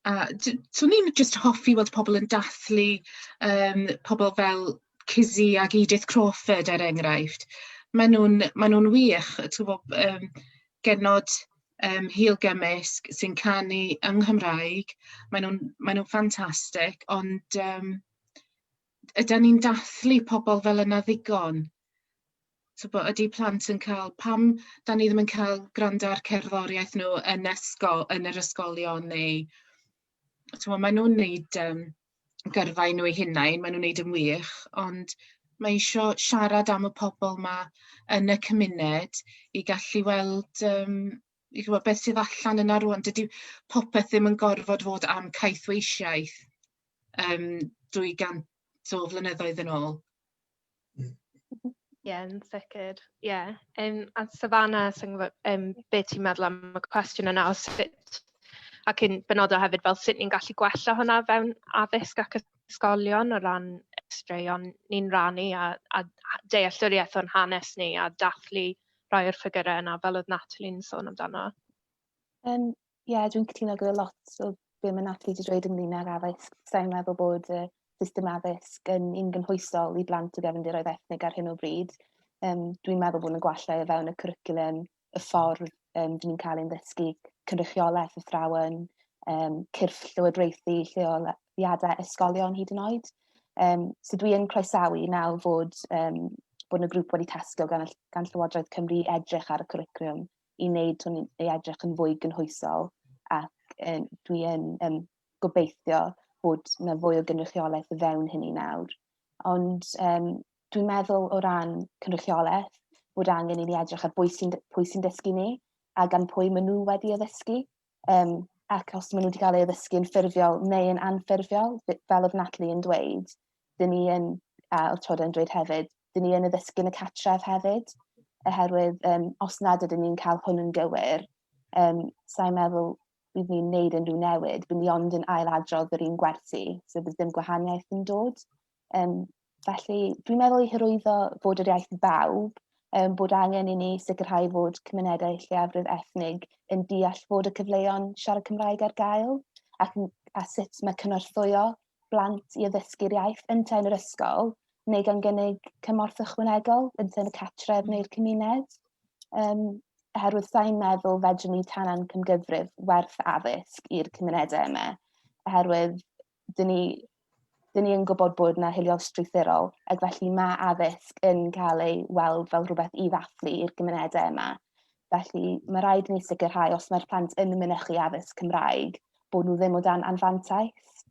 a swn i'n jyst hoffi weld pobl yn dathlu um, pobl fel Cizzy ac Edith Crawford er enghraifft. Maen nhw'n ma nhw wych, ti'n gwybod, um, genod yym Hil Gymysg sy'n canu yng Nghymraeg. Maen nhw'n maen nhw'n ffantastig, ond yym ydan ni'n dathlu pobl fel yna ddigon? Tibod, ydy plant yn cael... pam dan ni ddim yn cael gwrando ar cerddoriaeth nhw yn ysgol yn yr ysgolion neu... Timo, maen nhw'n wneud, yym, gyrfa i nhw eu hunain, maen nhw'n wneud yn wych, ond mae isio siarad am y pobl 'ma yn y cymuned i gallu weld, yym, i chimod, beth sydd allan yna rŵan. Dydy popeth ddim yn gorfod fod am caethweisiaeth, yym, 200 o flynyddoedd yn ôl. Ie yn sicr ie yym a Savannah sa i'n gwybod yym be ti'n meddwl am y cwestiwn yna o sut ac yn benodol hefyd fel sut ni'n gallu gwella hwnna o fewn addysg ac ysgolion o ran straeon ni'n rannu a a a dealltwriaeth o'n hanes ni a dathlu rhai o'r ffigyrau yna fel oedd Natalie'n sôn amdano. Yym Ie, yeah, dwi'n cytuno gyda lot o be mae Natalie wedi dweud ynglyn â'r addysg. Sa'n meddwl bod y system addysg yn un gynhwysol i blant o gefndiroedd ethnig ar hyn o bryd. Um, dwi'n meddwl bod yn gwallau o fewn y cwricwlum, y ffordd um, dyn ni'n cael ein ddysgu, cynrychiolaeth y thrawen, um, cyrff llywodraethu lleoliadau ysgolion hyd yn oed. Um, so dwi yn croesawu nawr fod, um, bod y grŵp wedi tasgo gan, gan Llywodraeth Cymru edrych ar y cwricwlum i wneud hwn i edrych yn fwy gynhwysol ac um, dwi yn um, gobeithio bod yna fwy o gynrychiolaeth o fewn hynny nawr. Ond um, dwi'n meddwl o ran cynrychiolaeth bod angen i ni edrych ar bwy sy'n sy dysgu ni a gan pwy maen nhw wedi addysgu. Yym ac os maen nhw wedi cael ei addysgu'n ffurfiol neu yn anffurfiol, fel oedd Natalie yn dweud, dyn ni yn, a oedd Todd yn dweud hefyd, dyn ni yn addysgu yn y catref hefyd, oherwydd um, os nad ydyn ni'n cael hwn yn gywir, um, sa'n meddwl bydd ni'n neud unrhyw newid, bydd ni ond yn ail adrodd yr un gwersi, so bydd dim gwahaniaeth yn dod. Um, Felly, dwi'n meddwl i hyrwyddo fod yr iaith bawb, um, bod angen i ni sicrhau fod cymunedau lleiafrif ethnig yn deall fod y cyfleon siarad Cymraeg ar gael ac a sut mae cynorthwyo blant i addysgu'r iaith yn yn yr ysgol neu gan gynnig cymorth ychwanegol yn y catref mm. neu'r cymuned. Um, oherwydd sa'n meddwl fedrwn ni tanan cymgyfrif werth addysg i'r cymunedau yma. Oherwydd dyn ni, dyn ni yn gwybod bod yna hiliol strwythurol, ac felly mae addysg yn cael ei weld fel rhywbeth i ddathlu i'r gymunedau yma. Felly mae rhaid ni sicrhau os mae'r plant yn mynychu addysg Cymraeg, bod nhw ddim o dan anfantais.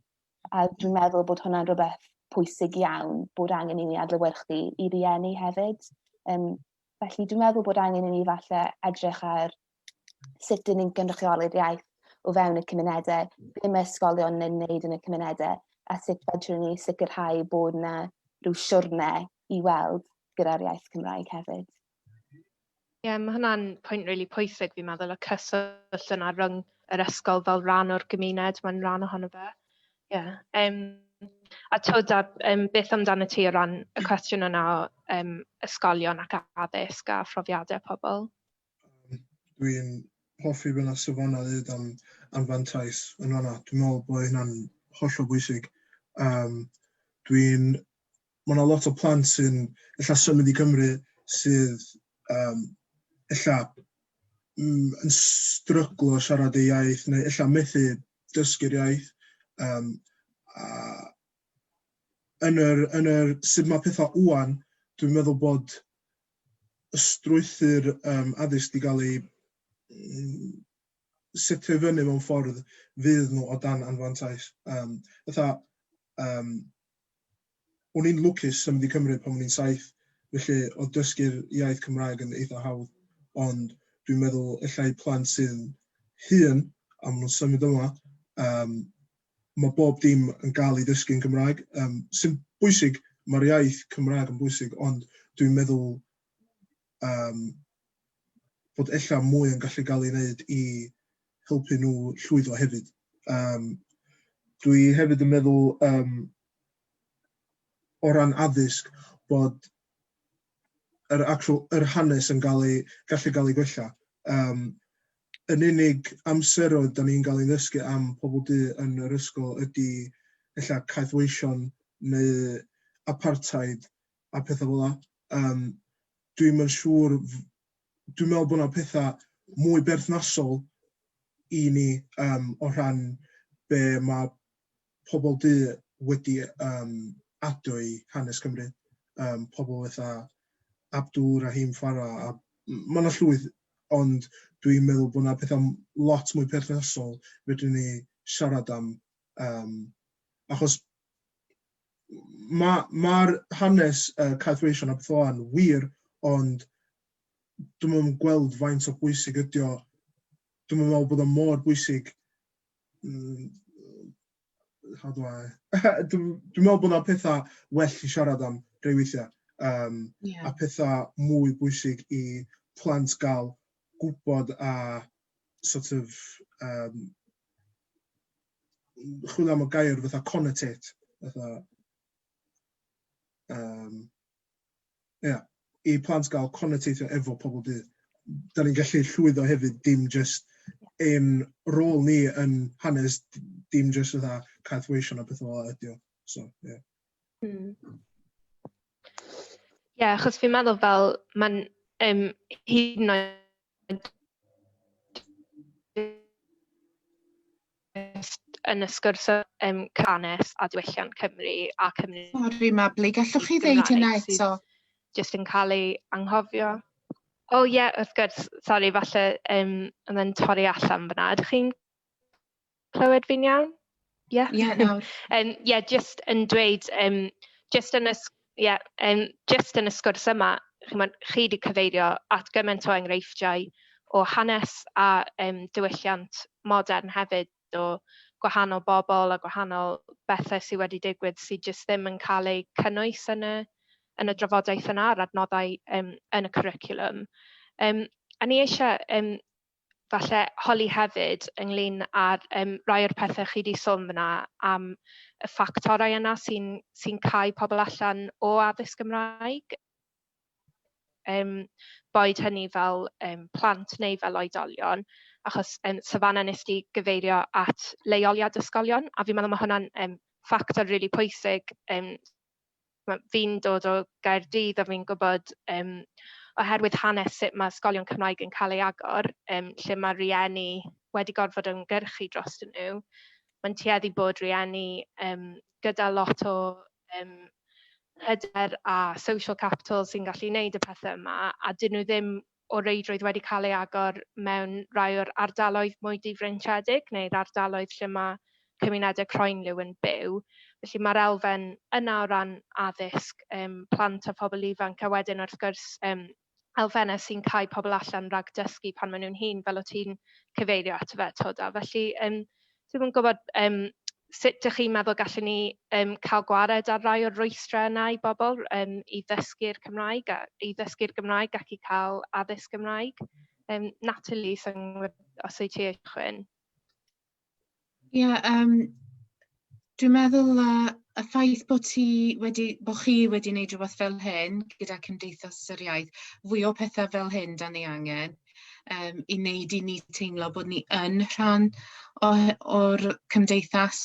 A dwi'n meddwl bod hwnna'n rhywbeth pwysig iawn, bod angen i ni adlewyrchu i rieni hefyd. Um, felly dwi'n meddwl bod angen i ni falle edrych ar sut dyn ni'n gynrychioli'r iaith o fewn y cymunedau, be mae ysgolion yn wneud yn y cymunedau, a sut fedrwn ni sicrhau bod yna rhyw siwrne i weld gyda'r iaith Cymraeg hefyd. Ie, yeah, mae hwnna'n pwynt rili really pwysig fi'n meddwl, y cyswllt yna rhwng yr ysgol fel rhan o'r gymuned, mae'n rhan ohono fe. Ie. Yeah. Um, a twyd, a, um, beth amdano ti o ran y cwestiwn yna o um, ysgolion ac addysg a phrofiadau pobl? Dwi'n hoffi fel y safonau ddweud am anfantais yn fan'na. Dwi'n meddwl bod hynna'n hollol bwysig. Yym dwi'n... Ma' 'na lot o plant sy'n ella symud i Gymru sydd yym ella m- yn stryglo siarad eu iaith neu ella methu dysgu'r iaith yym a yn yr yn yr sut ma' petha ŵan dwi'n meddwl bod y strwythur um, addysg wedi cael ei setio i fyny mewn ffordd fydd nhw o dan anfantais. Um, ytha, um, o'n i'n lwcus yn mynd i Cymru pan o'n i'n saith, felly o dysgu'r iaith Cymraeg yn eitha hawdd, ond dwi'n meddwl efallai plant sy'n hun a maen nhw'n symud yma, um, Mae bob dim yn gael ei ddysgu yn Gymraeg. Yym, sy'n bwysig, mae'r iaith Cymraeg yn bwysig, ond dwi'n meddwl um, bod ella mwy yn gallu cael ei wneud i helpu nhw llwyddo hefyd. Um, dwi hefyd yn meddwl um, o ran addysg bod yr actual yr hanes yn cael ei gallu cael ei gwella. Um, yn unig amseroedd da ni'n cael ei ddysgu am pobl du yn yr ysgol ydy ella caethweision neu apartheid a pethau fel la. Um, dwi'n mynd siŵr, dwi'n meddwl bod yna pethau mwy berthnasol i ni um, o rhan be mae pobl du wedi yym adio i Hanes Cymru, yym pobl fatha Abdul Rahim Farah a m- ma' 'na llwyth ond dwi'n meddwl bod 'na petha m- lot mwy perthnasol fedrwn ni siarad am yym achos ma' ma'r hanes yy Caeth Wŷs yn Aberthlon wir ond dwi'm yn gweld faint o bwysig ydi o, dwi'm yn meddwl bod o mor bwysig mm, how do I... Dwi'n dwi meddwl bod yna pethau well i siarad am rei weithiau. Um, yeah. A pethau mwy bwysig i plant gael gwybod a sort of... Um, chwilio am y gair fatha connotate. Fatha, um, Ia, i plant gael connecteithio efo pobl du. Da ni'n gallu llwyddo hefyd, dim jyst ein rôl ni yn hanes, dim jyst fatha caeth weision a pethau fel ydy o. So, ie. Yeah. Mm. Ie, achos fi'n meddwl fel, mae'n um, hyd yn oed yn y sgwrs um, cannes a diwylliant Cymru a Cymru. Sori Mabli, gallwch chi ddeud hynna eto? Just yn cael ei anghofio. O oh, ie, yeah, wrth gwrs, sori, falle um, yn yn torri allan fyna. Ydych chi'n clywed fi'n iawn? Ie? Ie, nawr. Ie, just yn dweud, um, just yn y Ie, yym jyst yn y sgwrs yma, chimod, chi 'di cyfeirio at gymaint o enghreifftiau o hanes a yym diwylliant modern hefyd o gwahanol bobl a gwahanol bethe sy wedi digwydd sy jyst ddim yn cael eu cynnwys yn y yn y drafodaeth yna a'r adnoddau yym yn y cwricwlwm. Yym a ni eisiau yym falle holi hefyd ynglyn â'r yym rai o'r pethe chi 'di sôn f'na am y ffactorau yna sy'n sy'n cau pobl allan o addysg Gymraeg, yym boed hynny fel yym plant neu fel oedolion achos yym Savannah wnest ti gyfeirio at leoliad ysgolion a fi'n meddwl ma' hwnna'n yym ffactor rili pwysig yym ma'... fi'n dod o Gaerdydd a fi'n gwybod yym oherwydd hanes sut ma' ysgolion Cymraeg yn cael eu agor yym lle ma' rhieni wedi gorfod ymgyrchu drostyn nhw, ma'n tueddu bod rhieni yym gyda lot o yym hyder a social capital sy'n gallu wneud y pethe yma a 'dyn nhw ddim o reidrwydd wedi cael ei agor mewn rhai o'r ardaloedd mwy difreintiedig neu'r ardaloedd lle mae cymunedau croenliw yn byw. Felly mae'r elfen yna o ran addysg um, plant a phobl ifanc a wedyn wrth gwrs um, elfennau sy'n cael pobl allan rhag dysgu pan maen nhw'n hun, fel o ti'n cyfeirio at fe, Toda. Felly um, Dwi'm yn gwybod yym sut dach chi'n meddwl gallwn ni yym cael gwared ar rai o'r rwystrau yna i bobl yym i ddysgu'r Cymraeg a i ddysgu'r Gymraeg ac i cael addysg Gymraeg. Yym Natalie, sa i'n gwybod os wyt ti eisiau cychwyn? Ie yym dwi'n meddwl yy y ffaith bod ti wedi bo' chi wedi neud rwbeth fel hyn gyda Cymdeithas yr Iaith fwy o pethe fel hyn 'dan ni angen. um, i wneud i ni teimlo bod ni yn rhan o'r cymdeithas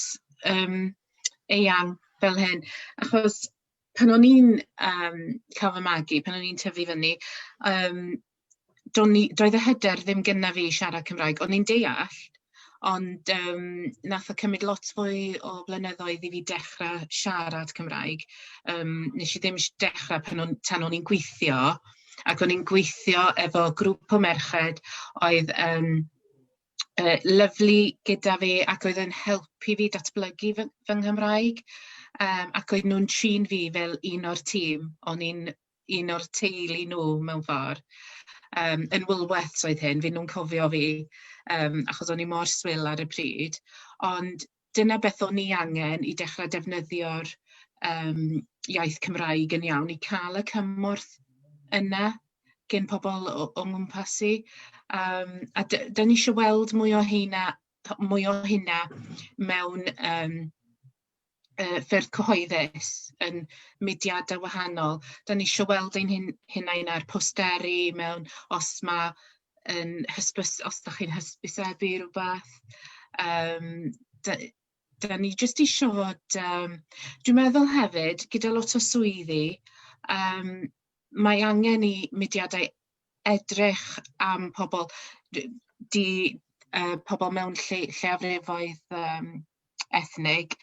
um, eang fel hyn. Achos pan o'n i'n um, cael fy magu, pan o'n i'n tyfu fyny, um, doedd y hyder ddim gyda fi siarad Cymraeg, o'n i'n deall, Ond yym wnaeth o cymryd lot fwy o flynyddoedd i fi dechrau siarad Cymraeg. Yym wnes i ddim dechrau pan o'n... tan o'n i'n gweithio, ac o'n i'n gweithio efo grŵp o merched oedd yn yy lyfli gyda fi ac oedd yn helpu fi datblygu fy fy Nghymraeg, yym ac oedden nhw'n trin fi fel un o'r tîm. O'n i'n un o'r teulu nhw mewn ffor yym yn Woolworths oedd hyn, fi'n nw'n cofio fi yym achos o'n i mor swil ar y pryd ond dyna beth o'n i angen i dechra defnyddio'r yym iaith Cymraeg yn iawn i ca'l y cymorth yna gin pobol o o ngwmpas i yym a d- 'dan ni isio weld mwy o heina p- mwy o hynna mewn yym yy ffyrdd cyhoeddus yn mudiadau wahanol. Da ni eisiau weld ein hun- hunain ar posteri mewn os ma' yn hysbys- os dach chi'n hysbysebu rywbeth yym da- da ni jyst isio fod yym dwi'n meddwl hefyd gyda lot o swyddi yym mae angen i mudiadau edrych am pobl, d- 'di yy pobl mewn lle lleiafrifoedd yym ethnig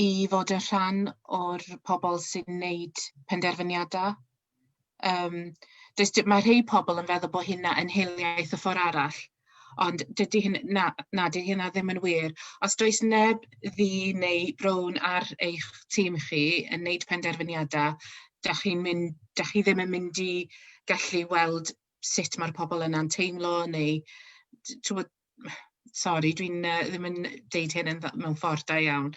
i fod yn rhan o'r pobl sy'n wneud penderfyniadau. Yym does dim... mae rhai pobl yn meddwl bod hynna yn hiliaeth y ffor' arall. Ond dydy hyn... na, na, dydy hynna ddim yn wir. Os does neb ddu neu brown ar eich tîm chi yn wneud penderfyniadau, dach chi'n mynd... dach chi ddim yn mynd i gallu weld sut mae'r pobl yna'n teimlo neu t- timod... Sori, dwi'n yy ddim yn deud hyn yn dda... mewn ffordd da iawn.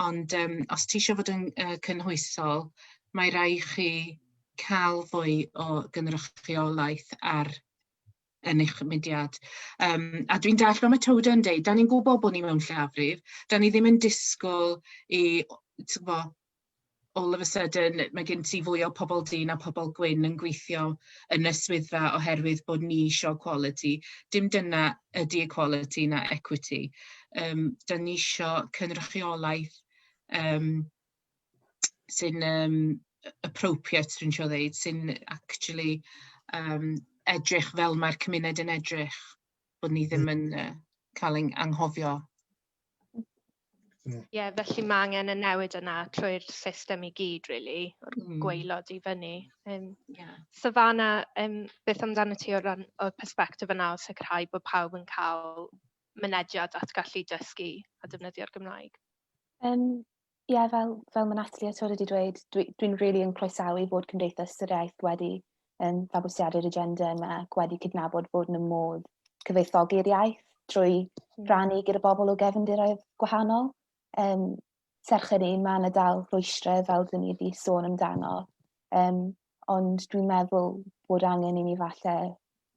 Ond yym os ti isio fod yn yy cynhwysol, mae raid chi cael fwy o gynrychiolaeth ar yn eich mudiad. Um, a dwi'n dall fel mae Toda yn deud, da ni'n gwybod bod ni mewn llafrif, da ni ddim yn disgwyl i, ti'n bo, all of a sudden mae gen ti fwy o pobl dyn a pobl gwyn yn gweithio yn y swyddfa oherwydd bod ni eisiau quality. Dim dyna ydy equality na equity. Um, da ni eisiau cynrychiolaeth um, sy'n um, appropriate, dwi'n siŵr ddeud, sy'n actually um, edrych fel mae'r cymuned yn edrych, bod ni ddim yn uh, cael ein anghofio. Ie, yeah, felly mae angen y newid yna trwy'r system i gyd, really, o'r mm. gweilod i fyny. Um, yeah. Savannah, um, beth amdano ti o'r, o'r perspektif yna o sicrhau bod pawb yn cael mynediad at gallu dysgu a defnyddio'r Gymraeg? Um, ie, fel, fel mae Natalie a Tod wedi dweud, dwi'n dwi, dwi really yn croesawu fod Cymdeithas yr Iaith wedi um, fabwysiadu'r agenda yma ac wedi cydnabod bod yn y modd cyfoethogi'r iaith trwy hmm. rannu gyda bobl o gefndiroedd gwahanol. Um, serch hynny, mae yna dal rwystrau fel dyn ni wedi sôn amdano. Um, ond dwi'n meddwl bod angen i ni falle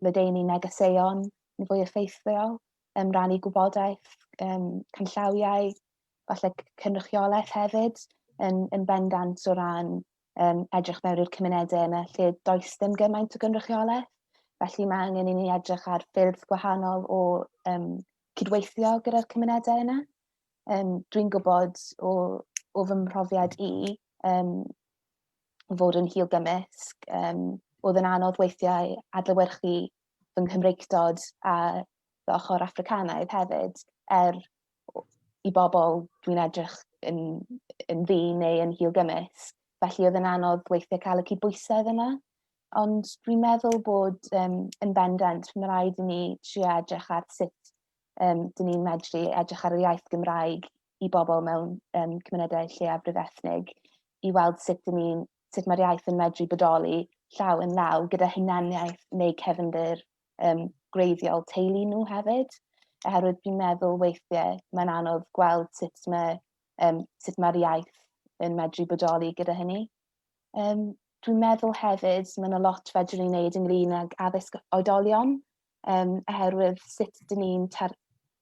ledeini negeseuon yn fwy effeithiol, um, rannu gwybodaeth, um, canllawiau, falle cynrychiolaeth hefyd yn, yn bendant o ran um, edrych mewn i'r cymunedau yna lle does dim gymaint o gynrychiolaeth. Felly mae angen i ni edrych ar ffyrdd gwahanol o um, cydweithio gyda'r cymunedau yna. Um, Dwi'n gwybod o, o fy mhrofiad i um, fod yn hil gymysg, um, oedd yn anodd weithiau adlywyrchu fy Nghymreictod a fy ochr Africanaidd hefyd, er i bobl dwi'n edrych yn yn ddu neu yn hil gymysg. Felly oedd yn anodd weithiau cael y cydbwysedd yna. Ond dwi'n meddwl bod um, yn bendant, mae rhaid i ni trio edrych ar sut um, dyn ni'n medru edrych ar y iaith Gymraeg i bobl mewn um, cymunedau lleiafrif ethnig i weld sut dyn ni'n sut mae'r iaith yn medru bodoli llaw yn law gyda hunaniaeth neu cefndir um, gwreiddiol teulu nhw hefyd, oherwydd dwi'n meddwl weithiau mae'n anodd gweld sut mae um, sut mae'r iaith yn medru bodoli gyda hynny. Um, dwi'n meddwl hefyd, mae yna lot fedrwn ni wneud ynglyn ag addysg oedolion, um, oherwydd sut dyn ni'n tar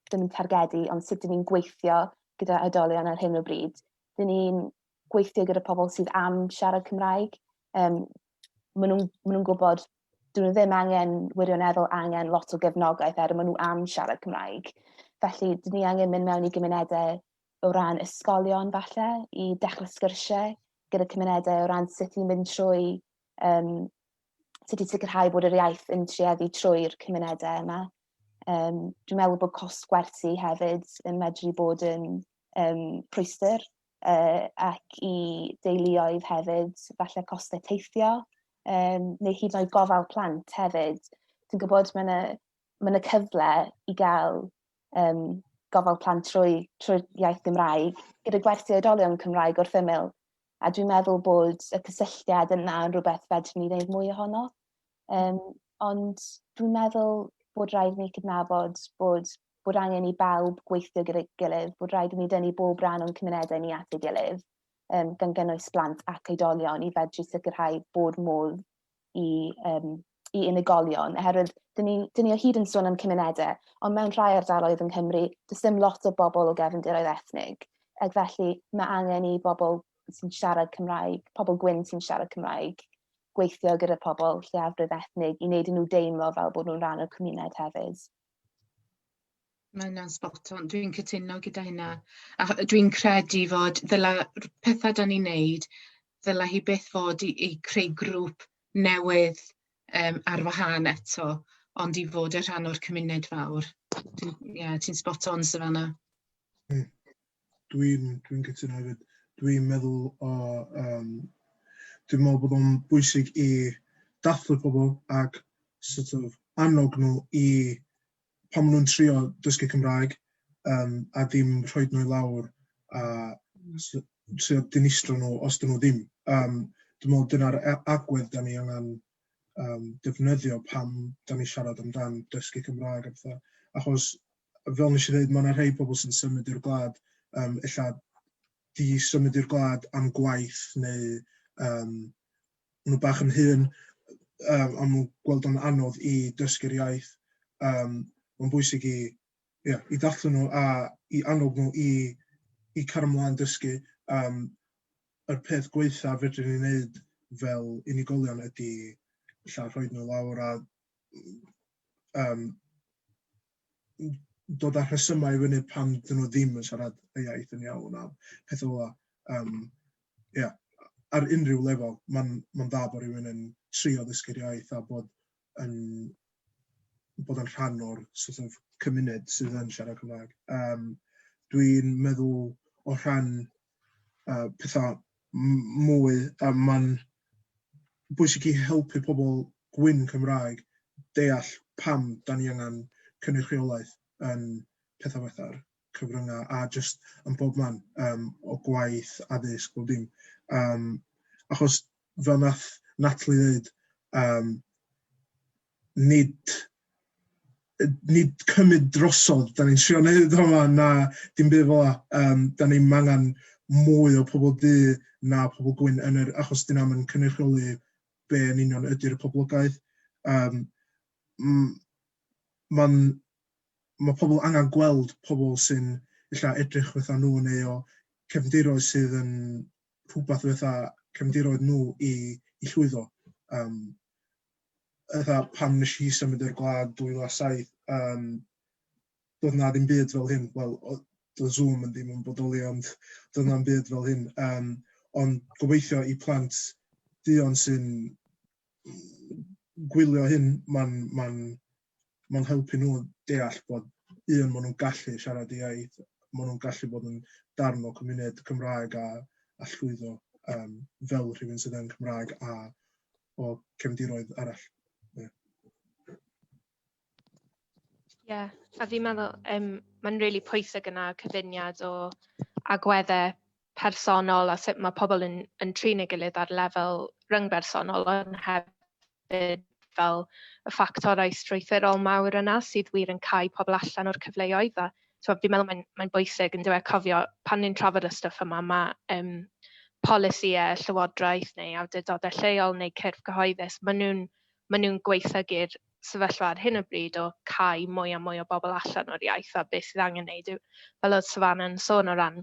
ddim yn targedu, ond sut dyn ni'n gweithio gyda oedolion ar hyn o bryd. Dyn ni'n gweithio gyda pobl sydd am siarad Cymraeg, um, maen nhw'n ma nhw gwybod dyn nhw ddim angen wirioneddol angen lot o gefnogaeth er maen nhw am siarad Cymraeg. Felly, dyn ni angen mynd mewn i gymunedau o ran ysgolion falle i dechrau sgyrsiau gyda cymunedau o ran sut i'n mynd trwy um, sut i sicrhau bod yr iaith yn trieddu trwy'r cymunedau yma. Um, dwi'n meddwl bod cost gwerthu hefyd yn medru bod yn um, rhwystyr uh, ac i deuluoedd hefyd, falle costau teithio, um, neu hyd yn oed gofal plant hefyd. Dwi'n gwybod mae yna, mae yna cyfle i gael um, gofal plant trwy, trwy iaith Gymraeg, gyda gwersi oedolion Cymraeg wrth ymyl. A dwi'n meddwl bod y cysylltiad yna yn rhywbeth fedrwn ni wneud mwy ohono. Um, ond dwi'n meddwl bod rhaid ni cydnabod bod bod angen i bawb gweithio gyda'i gilydd, bod rhaid i ni dynnu bob rhan o'n cymunedau ni at ei gilydd, um, gan gynnwys blant ac oedolion, i fedru sicrhau bod modd i, um, i unigolion, oherwydd dyn ni, dyn ni o hyd yn sôn am cymunedau, ond mewn rhai ardaloedd yng Nghymru, does dim lot o bobl o gefndiroedd ethnig, ac felly mae angen i bobl sy'n siarad Cymraeg, pobl gwyn sy'n siarad Cymraeg, gweithio gyda pobl lleiafrif ethnig i wneud nhw deimlo fel bod nhw'n rhan o'r cymuned hefyd. Mae hynna'n spot on. Dwi'n cytuno gyda hynna. A dwi'n credu fod ddyla r- petha 'dan ni'n neud, ddyla hi byth fod i i creu grŵp newydd yym ar wahân eto, ond i fod yn rhan o'r cymuned fawr. Dwi'n, ie, ti'n spot on Savannah. Hmm. Dwi'n dwi'n cytuno hefyd. Dwi'n meddwl o yym dwi'n meddwl bod o'n bwysig i dathlu pobl ac sort of annog nhw i pan maen nhw'n trio dysgu Cymraeg yym a dim rhoi nhw i lawr a hmm. s- trio dinistrio nhw os dyn nhw ddim. Um, dwi'n meddwl dyna'r a- agwedd da ni angen um, defnyddio pam da ni siarad amdan dysgu Cymraeg a pethau. Achos fel nes i ddeud, mae yna rhai pobl sy'n symud i'r gwlad, um, illa di symud i'r gwlad am gwaith neu um, nhw bach yn hun, um, am nhw'n gweld o'n anodd i dysgu'r iaith. Um, mae'n bwysig i, yeah, i dathlu nhw a i annog nhw i, i car ymlaen dysgu. Um, yr peth gweitha fedrwn ni wneud fel unigolion ydy lla rhoi nhw lawr a um, dod â rhesymau i fyny pam dyn nhw ddim yn siarad y iaith yn iawn a pethau fel 'na. Yym, ia, ar unrhyw lefel, mae'n ma dda bod rhywun yn trio ddysgu'r iaith a bod yn bod yn rhan o'r sort of cymuned sydd yn siarad Cymraeg. Um, dwi'n meddwl o rhan uh, pethau mwy, a mae'n bwysig i helpu pobl gwyn Cymraeg deall pam da ni angen cynrychiolaeth yn pethau fatha'r cyfryngau a just yn bob man um, o gwaith, addysg, bob dim. Um, achos fel nath Natalie ddeud, um, nid nid cymryd drosodd, da ni'n trio wneud o yma, na dim byd fel yna. Um, da ni'n angen mwy o pobl du na pobl gwyn yn yr achos dyn nhw'n cynrychioli be yn union ydy'r poblogaeth. Um, Mae'n mae pobl angen gweld pobl sy'n illa edrych fatha nhw neu o cefndiroedd sydd yn rhywbeth fatha cefndiroedd nhw i, i llwyddo. Um, fatha pan nes i symud i'r gwlad 2007 yym doedd 'na ddim byd fel hyn wel oedd doedd Zoom yn ddim yn bodoli ond doedd 'na'm byd fel hyn yym ond gobeithio i plant duon sy'n gwylio hyn ma'n ma'n mae'n helpu nhw deall bod un, maen nhw'n gallu siarad y iaith, maen nhw'n gallu bod yn darn o cymuned Cymraeg a, a llwyddo um, fel rhywun sydd yn Cymraeg a o cefndiroedd arall. Ie, yeah. a fi'n meddwl um, mae'n rili really pwysig yna cyfuniad o agweddau personol a sut mae pobl yn, yn trin ei gilydd ar lefel ryngbersonol ond hefyd fel y ffactorau strwythurol mawr yna sydd wir yn cael pobl allan o'r cyfleoedd a so, fi'n meddwl mae'n mae bwysig yn dweud cofio pan ni'n trafod y stwff yma mae um, polisïau llywodraeth neu awdurdodau lleol neu cyrff cyhoeddus, maen nhw'n ma nhw gweithygu'r sefyllfa ar hyn o bryd o cael mwy a mwy o bobl allan o'r iaith a beth sydd angen wneud yw, fel oedd Savannah yn sôn o ran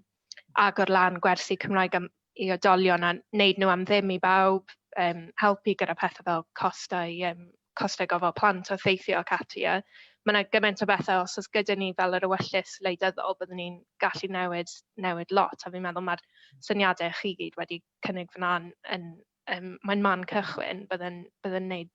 agor lan gwersi Cymraeg am i oedolion a wneud nhw am ddim i bawb, um, helpu gyda pethau fel costau, um, costau gofal plant a theithio ac ati. A mae yna gymaint o bethau, os oes gyda ni fel yr ewyllus leidyddol, byddwn ni'n gallu newid, newid lot. A fi'n meddwl mae'r syniadau chi gyd wedi cynnig fyna'n yn, um, mae'n man cychwyn, byddwn ni'n gwneud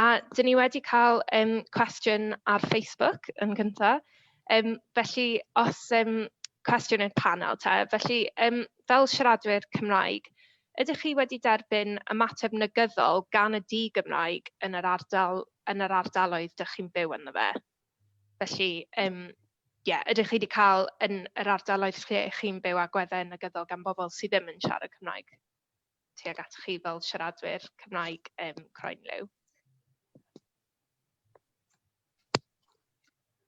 A dyn ni wedi cael yym cwestiwn ar Facebook yn gynta', yym felly os yym cwestiwn i'r panel te, felly yym fel siaradwyr Cymraeg, ydych chi wedi derbyn ymateb negyddol gan y di-Gymraeg yn yr ardal yn yr ardaloedd dych chi'n byw ynddo fe? Felly yym ie, ydych chi wedi cael yn yr ardaloedd lle chi'n byw agweddau negyddol gan bobl sydd ddim yn siarad Cymraeg? tuag at chi fel siaradwyr Cymraeg um, croen liw?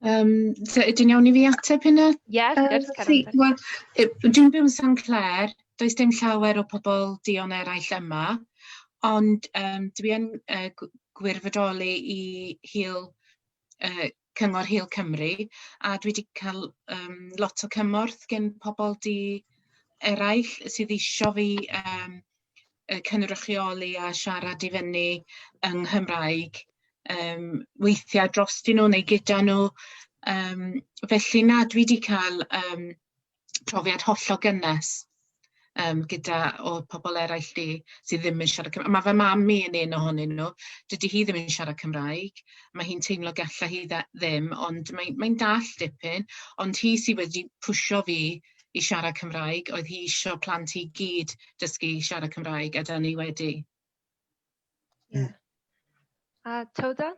Um, so ydyn iawn i fi ateb hynna? Yes, uh, good, Karen. Well, dwi'n byw yn San Clair, does dim llawer o pobl dion eraill yma, ond um, dwi'n uh, gwirfoddoli i hil uh, Cyngor Hil Cymru a dwi 'di ca'l yym lot o cymorth gen pobol di eraill sydd isio fi yym yy cynrychioli a siarad i fyny yng Nghymraeg yym weithia' drostyn nw neu gyda nw yym felly na dwi 'di ca'l yym profiad hollol gynnes yym gyda o'dd pobol eraill 'di sydd ddim yn siarad Cymraeg. Ma' fy mam i yn un ohonyn nhw, dydi hi ddim yn siarad Cymraeg, ma' hi'n teimlo galla hi dde- ddim, ond mae mae'n dall dipyn, ond hi sy wedi pwsio fi i siarad Cymraeg, oedd hi isio plant hi gyd dysgu siarad Cymraeg, a 'dan ni wedi. Ie. A Towda?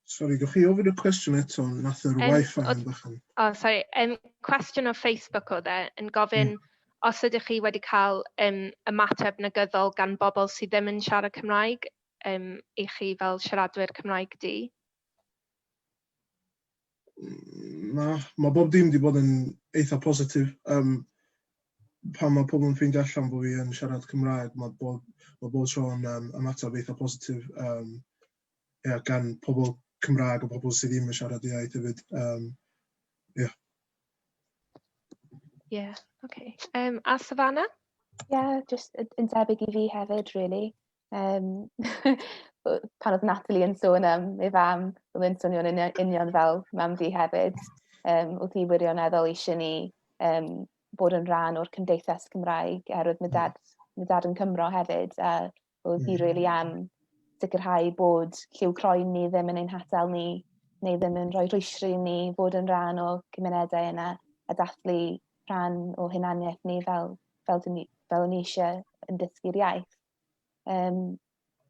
Sorry, gewch chi ofyn y cwestiwn eto, nath yr um, wifi yn bychan. O, oh, sorry, um, cwestiwn o Facebook o dde, yn gofyn mm. os ydych chi wedi cael um, ymateb negyddol gan bobl sydd ddim yn siarad Cymraeg um, i chi fel siaradwyr Cymraeg di? na, mae bob dim wedi bod yn eitha positif. Um, pan mae pobl yn ffeindio allan bod fi yn siarad Cymraeg, mae bob, mae bob tro yn um, ymateb eitha positif. Um, yeah, gan pobl Cymraeg a pobl sydd ddim yn siarad iaith hefyd. Um, yeah. Yeah, okay. Um, a Savannah? Ie, yeah, jyst yn debyg i fi hefyd, really. Yym pan oedd Natalie yn sôn am ei fam, oedd e'n swnio'n union, union fel mam fi hefyd. Um, oedd hi wirioneddol eisiau ni um, bod yn rhan o'r cymdeithas Cymraeg, oherwydd mae dad, mae dad yn Cymro hefyd, a oedd hi really am sicrhau bod lliw croen ni ddim yn ein hatal ni, neu ddim yn rhoi rhwysri ni fod yn rhan o cymunedau yna, a dathlu rhan o hunaniaeth ni fel, fel, fel, fel ni eisiau yn dysgu'r iaith. Um,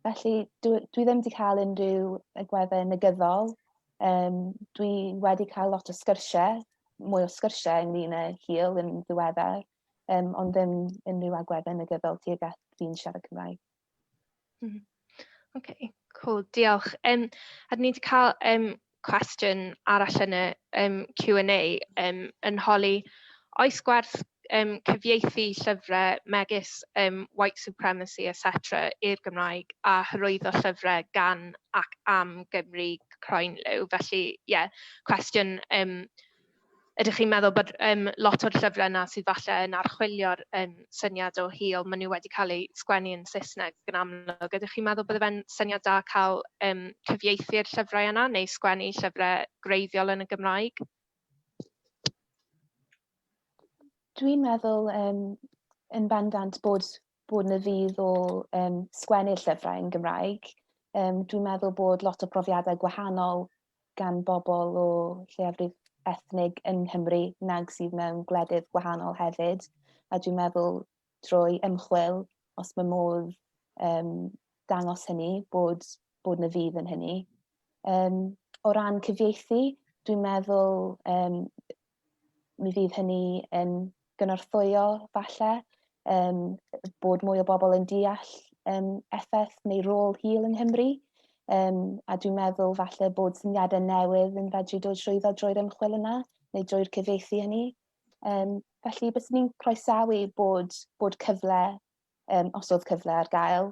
felly, dwi, dwi ddim wedi cael unrhyw agweddau negyddol. Um, dwi wedi cael lot o sgyrsiau, mwy o sgyrsiau ynglyn â hil yn ddiweddar, um, ond ddim unrhyw agweddau negyddol tuag at fi'n siarad Cymraeg. Mm. OK, cool, diolch. Um, a dyn ni wedi cael um, cwestiwn arall yn y um, Q&A um, yn holi oes gwerth um, cyfieithu llyfrau megis um, white supremacy, etc. i'r Gymraeg a hyrwyddo llyfrau gan ac am Gymru croen liw. Felly, ie, yeah, cwestiwn um, ydych chi'n meddwl bod um, lot o'r llyfrau yna sydd falle yn archwilio'r um, syniad o hil, maen nhw wedi cael eu sgwennu yn Saesneg yn amlwg. Ydych chi'n meddwl bod e'n syniad da cael um, cyfieithu'r llyfrau yna neu sgwennu llyfrau greiddiol yn y Gymraeg? Dwi'n meddwl um, yn bendant bod, bod na fydd o um, sgwennu'r llyfrau yn Gymraeg. Um, dwi'n meddwl bod lot o brofiadau gwahanol gan bobl o lleiafrif ethnig yng Nghymru nag sydd mewn gwledydd gwahanol hefyd. A dwi'n meddwl drwy ymchwil, os mae modd um, dangos hynny, bod, bod na fydd yn hynny. Um, o ran cyfieithu, dwi'n meddwl um, mi fydd hynny yn gynorthwyo falle um, bod mwy o bobl yn deall um, effaith neu rôl hil yng Nghymru. Um, a dwi'n meddwl falle bod syniadau newydd yn fedru dod trwyddo drwy'r ymchwil yna neu drwy'r cyfieithu hynny. Um, felly, bys ni'n croesawu bod, bod cyfle, um, os oedd cyfle ar gael,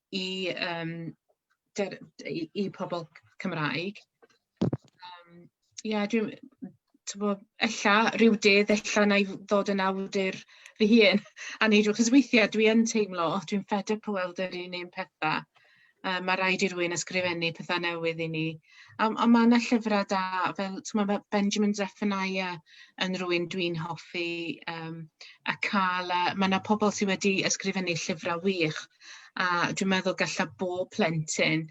i yym ger- i i pobol Cymraeg yym ie dwi m- t'bo ella ryw dydd ella na'i f- ddod yn awdur fy hun a neud o 'c'os weithie dwi yn teimlo o dwi'n fed up o weld yr un un petha yy ma' raid i rywun ysgrifennu petha newydd i ni. Um, ond mae yna llyfrau da, fel mae Benjamin Zephaniah yn rhywun dwi'n hoffi, um, a cael, uh, mae yna pobl sydd wedi ysgrifennu llyfrau wych, a dwi'n meddwl gallai bob plentyn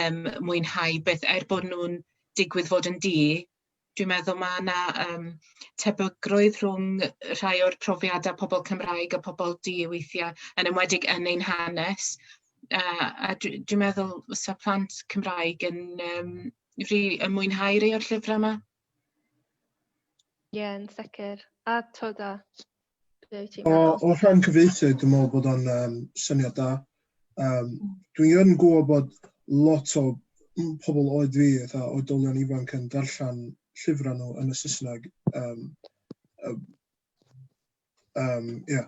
um, mwynhau beth, er bod nhw'n digwydd fod yn di, Dwi'n meddwl ma' 'na yym tebygrwydd rhwng yy rhai o'r profiada pobol Cymraeg a pobol du weithia' yn enwedig yn ein hanes a a dwi dwi meddwl fysa plant Cymraeg yn yym rili yn mwynhau rei o'r llyfra 'ma. Ie yn sicir a t'od a Be wyt ti'n meddwl? O, o rhan cyfeithu, dwi'n meddwl bod o'n um, syniad da. Um, dwi'n yn gwybod bod lot o pobl oed fi, eitha, oedolion ifanc yn darllen llyfrau nhw yn y Saesneg. Um, um, um, yeah,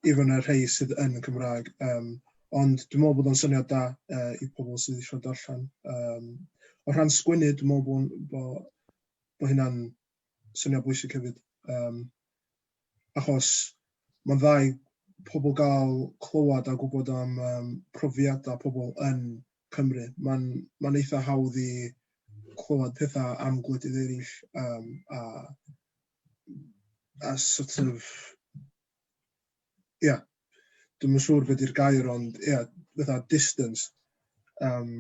even y rhai sydd yn y Cymraeg. Um, ond dwi'n meddwl bod o'n syniad da uh, i pobl sydd eisiau darllen. Um, o rhan sgwynnu, dwi'n meddwl bod, bod, bod hynna'n syniad bwysig hefyd, um, achos mae'n dda i pobl gael clywed a gwybod am um, profiadau pobl yn Cymru. Mae'n ma eitha hawdd i clywed pethau am gwledydd eraill um, a, a sort of... Ie, yeah, dwi'n siŵr beth i'r gair, ond ie, yeah, fatha distance. Um,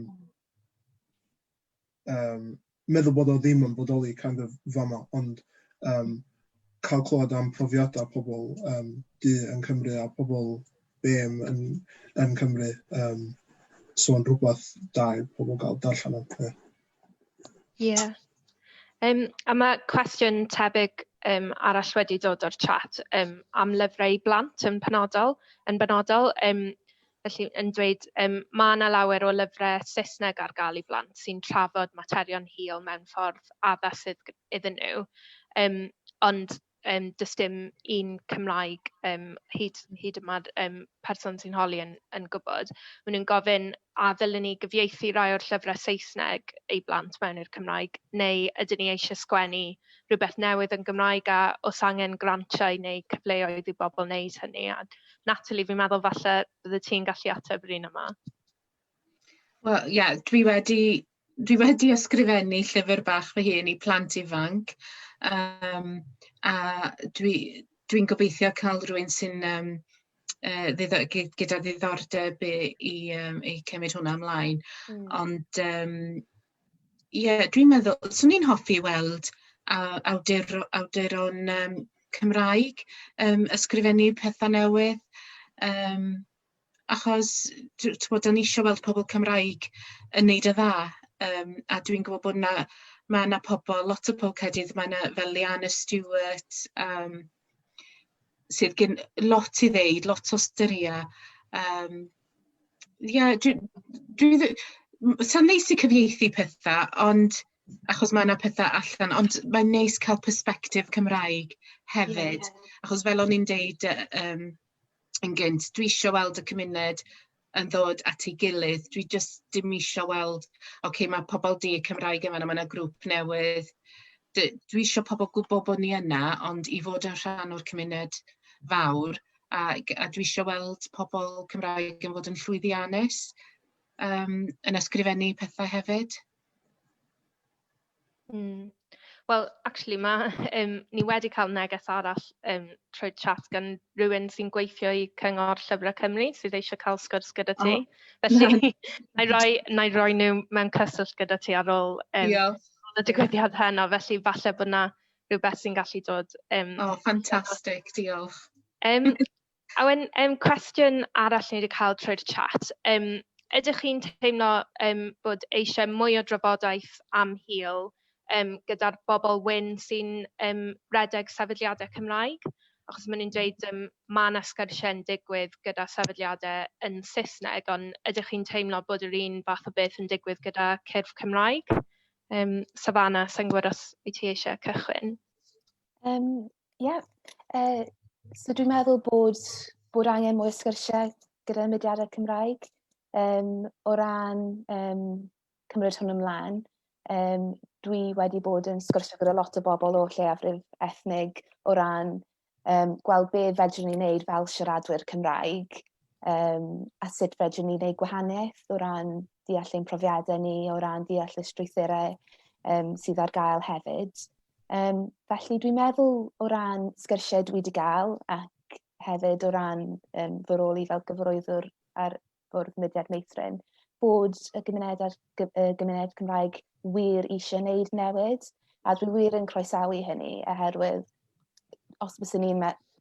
yym meddwl bod o ddim yn bodoli kind of fan'na, ond yym cael clywed am profiadau pobl yym du yn Cymru a pobl BAME yn yn Cymru yym so yn rhywbeth da i pobl gael darllen am. Ie. Yeah. Um, a mae cwestiwn tebyg um, arall wedi dod o'r chat um, am lyfrau i blant yn penodol, yn benodol. Um, Felly, yn dweud, um, mae yna lawer o lyfrau Saesneg ar gael i blant sy'n trafod materion hil mewn ffordd addas sydd iddyn nhw, um, ond um, does dim un Cymraeg um, hyd, hyd y mae'r um, person sy'n holi yn, yn gwybod. Maen nhw'n gofyn a ddylen ni gyfieithu rai o'r llyfrau Saesneg i blant mewn i'r Cymraeg, neu ydyn ni eisiau sgwennu rhywbeth newydd yn Gymraeg a os angen grantiau neu cyfleoedd i bobl wneud hynny. A Natalie, fi'n meddwl falle bydde ti'n gallu ateb yr un yma. Wel, ie, yeah, dwi wedi dwi wedi ysgrifennu llyfr bach fy hun i plant ifanc um, a dwi'n dwi gobeithio cael rhywun sy'n um, uh, ddiddo, gyda ddiddordeb i, i, um, i cymryd hwnna ymlaen. Mm. Ond um, Ie dwi'n meddwl swn i'n hoffi weld aw- awduro- awduron yym Cymraeg yym ysgrifennu petha newydd yym achos dw- t'mod 'dan ni isio weld pobol Cymraeg yn neud yn dda yym a dwi'n gwbo bod 'na ma' 'na pobol lot o pol Caerdydd ma' 'na fel Leanne Stewart yym sydd gin lot i ddeud lot o storia yym Ie, dwi dwi ddi- m- sa'n neis i cyfieithu petha ond achos ma' 'na petha allan ond mae'n neis cael persbectif Cymraeg hefyd... Ie ie. ...achos fel o'n i'n deud yy yym yn gynt dwi isio weld y cymuned yn ddod at ei gilydd dwi jyst dim isio weld ocê ma' pobol 'di Cymraeg yn fan'na ma' 'na grŵp newydd d- dwi isio pobol gwbo bo' ni yna ond i fod yn rhan o'r cymuned fawr a g- a dwi isio weld pobl Cymraeg yn fod yn llwyddiannus um, yn ysgrifennu pethau hefyd. Mm. Wel, actually, mae, um, ni wedi cael neges arall um, trwy chat gan rhywun sy'n gweithio i Cyngor Llyfrau Cymru sydd eisiau cael sgwrs gyda ti. Oh. Felly, na i roi, na i roi nhw mewn cyswllt gyda ti ar ôl um, y digwyddiad heno, felly falle bod yna rhywbeth sy'n gallu dod yym... O ffantastig, diolch. Yym a wedyn yym cwestiwn arall ni wedi cael trwy'r chat, yym ydych chi'n teimlo yym bod eisiau mwy o drafodaeth am hil yym gyda'r bobl wyn sy'n yym rhedeg sefydliadau Cymraeg? Achos maen nhw'n dweud yym ma' 'na sgyrsiau'n digwydd gyda sefydliadau yn Saesneg, ond ydych chi'n teimlo bod yr un fath o beth yn digwydd gyda cyrff Cymraeg? Um, Savannah, sa'n gwybod os wyt ti eisiau cychwyn? Um, yeah. uh, so dwi'n meddwl bod, bod angen mwy o sgyrsiau gyda mudiadau Cymraeg um, o ran um, cymryd hwn ymlaen. Um, dwi wedi bod yn sgwrsio gyda lot o bobl o lleiafrif ethnig o ran um, gweld be fedrwn ni wneud fel siaradwyr Cymraeg um, a sut fedrwn ni wneud gwahaniaeth o ran deall ein profiadau ni, o ran deall y strwythurau um, sydd ar gael hefyd. Um, felly dwi'n meddwl o ran sgyrsiau dwi wedi gael ac hefyd o ran um, fy rôl i fel gyfroeddwr ar Bwrdd Mudiad Meithrin, bod y gymuned a'r y gymuned Cymraeg wir eisiau wneud newid, a dwi wir yn croesawu hynny, oherwydd os bys ni,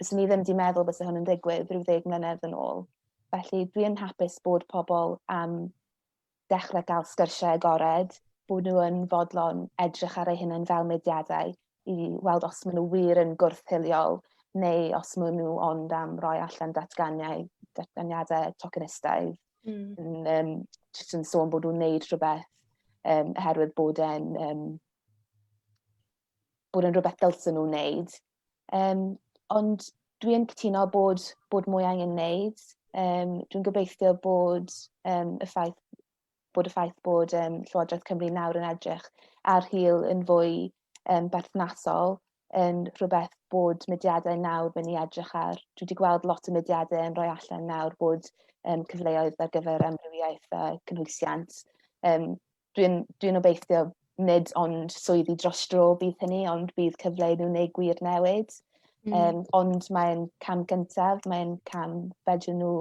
bys ni ddim wedi meddwl bys hwn yn digwydd rhyw ddeg mlynedd yn ôl. Felly dwi yn hapus bod pobl am dechrau gael sgyrsiau agored, bod nhw yn fodlon edrych ar eu hunain fel mudiadau, i weld os maen nhw wir yn gwrth-hiliol neu os maen nhw ond am roi allan datganiau, datganiadau tokenistaidd mm. yn, um, just yn sôn bod nhw'n neud rhywbeth um, oherwydd bod e'n um, bod e'n rhywbeth dylsyn nhw'n neud. Um, ond dwi'n cytuno bod, bod mwy angen neud. Um, dwi'n gobeithio bod um, y ffaith bod y ffaith bod um, Llywodraeth Cymru nawr yn edrych ar hil yn fwy um, berthnasol yn rhywbeth bod mudiadau nawr mynd i edrych ar. Dwi wedi gweld lot o mudiadau yn rhoi allan nawr bod um, cyfleoedd ar gyfer amrywiaeth a cynhwysiant. Um, Dwi'n dwi obeithio nid ond swyddi dros dro bydd hynny, ond bydd cyfle nhw neu gwir newid. Mm. Um, ond mae'n cam gyntaf, mae'n cam fedrwn nhw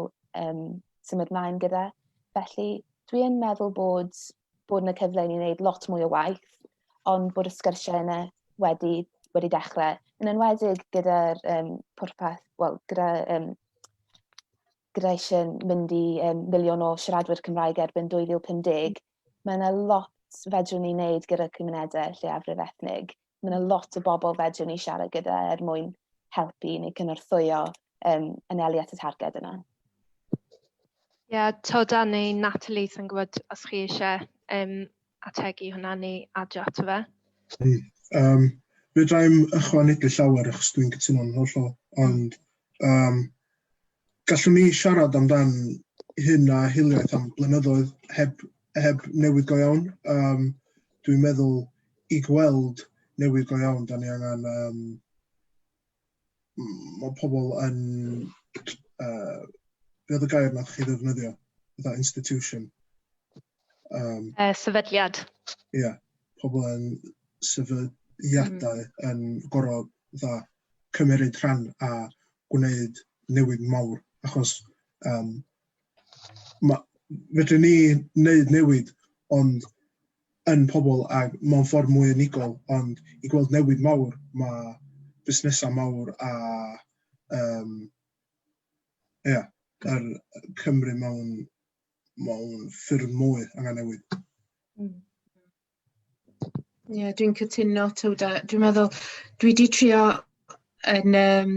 um, symud mlaen gyda. Felly, dwi yn meddwl bod, bod yna cyfle i ni wneud lot mwy o waith, ond bod y sgyrsiau yna wedi, wedi dechrau, yn enwedig gyda'r um, pwrpas, wel, gyda, um, gyda eisiau mynd i um, miliwn o siaradwyr Cymraeg erbyn 2050, mae yna lot fedrwn ni wneud gyda cymunedau lleiafrif ethnig mae yna lot o bobl fedrwn ni siarad gyda er mwyn helpu neu cynorthwyo um, anelu at y targed yna. Ie, yeah, Toda neu Natalie, sy'n gwybod os chi eisiau um, ategu hwnna neu adio ato fe. Um, fe draem ychwanegu llawer achos dwi'n cytuno'n hollol, ond um, Gallwn ni siarad amdan hyn a hiliaeth am blynyddoedd heb heb newid go iawn. Yym dwi'n meddwl i gweld newid go iawn dan ni angen yym m- ma' pobl yn yy be oedd y gair 'na o'ch chi ddefnyddio fatha institution? Um, uh, sefydliad. Ie, yeah, pobl yn sefydliadau mm. yn gorau dda cymryd rhan a gwneud newid mawr, achos um, ma, fedrwn ni wneud newid ond yn pobl a mewn ffordd mwy unigol, ond i gweld newid mawr, mae busnesau mawr a um, yeah, yr Cymru mewn mae o'n ffurf mwy angen newid. Mm. Ie, yeah, dwi'n cytuno, Tywda. Dwi'n meddwl, dwi wedi trio yn um,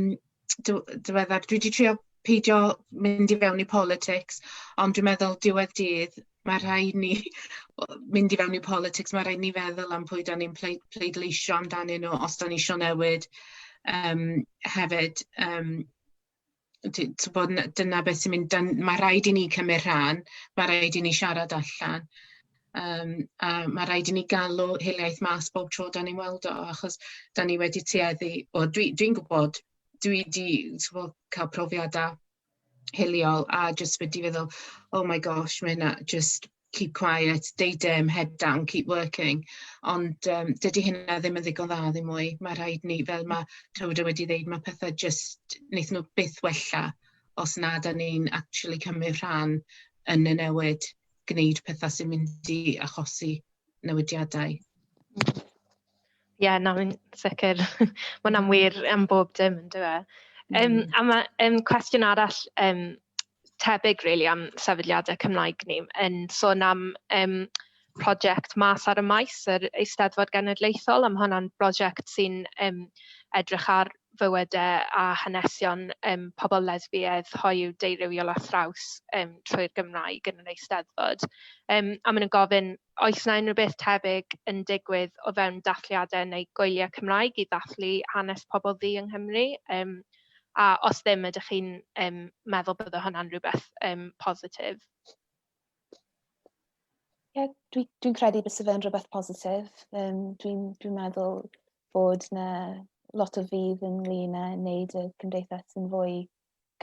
diweddar, dwi wedi trio peidio mynd i fewn i politics, ond dwi'n meddwl diwedd dydd, mae rhaid ni mynd i fewn i politics, mae rhaid ni feddwl am pwy da ni'n pleidleisio amdanyn nhw os da ni eisiau newid um, hefyd. Um, ti'n gwybod, dyna beth sy'n mynd, mae rhaid i ni cymryd rhan, mae rhaid i ni siarad allan, um, a mae rhaid i ni galw hiliaeth mas bob tro da ni'n weld o, achos da ni wedi tueddu, o dwi'n dwi, gwybod, dwi wedi cael profiadau hiliol a jyst wedi feddwl, oh my gosh, mae hynna jyst keep quiet, deud dim, head down, keep working, ond um, dydy hynna ddim yn ddigon dda ddim mwy. Mae rhaid ni, fel mae Tywda wedi dweud, mae pethau just, wnaethon nhw byth wella os na da ni'n actually cymryd rhan yn y newid, gwneud pethau sy'n mynd i achosi newidiadau. Ie, yeah, na, mae'n sicr. Mae'n amwyr am bob dim, yn dweud. Um, a mae um, cwestiwn arall um, tebyg really am sefydliadau Cymraeg ni yn sôn am um, prosiect mas ar y maes yr Eisteddfod Genedlaethol am hwnna'n brosiect sy'n um, edrych ar fywydau a hanesion um, pobl lesbiaidd, hoyw, deurywiol a thraws um, trwy'r Gymraeg yn yr Eisteddfod. Um, a maen nhw'n gofyn Oes 'na unrhyw beth tebyg yn digwydd o fewn dathliadau neu gwyliau Cymraeg i ddathlu hanes pobl ddu yng Nghymru? Yym, a os ddim, ydych chi'n um, meddwl bydde hwnna'n rhywbeth um, positif? Ie, yeah, dwi'n dwi, credu bys fe'n rhywbeth positif. Um, dwi'n dwi meddwl bod na lot o fydd ynglyn â wneud y cymdeithas yn fwy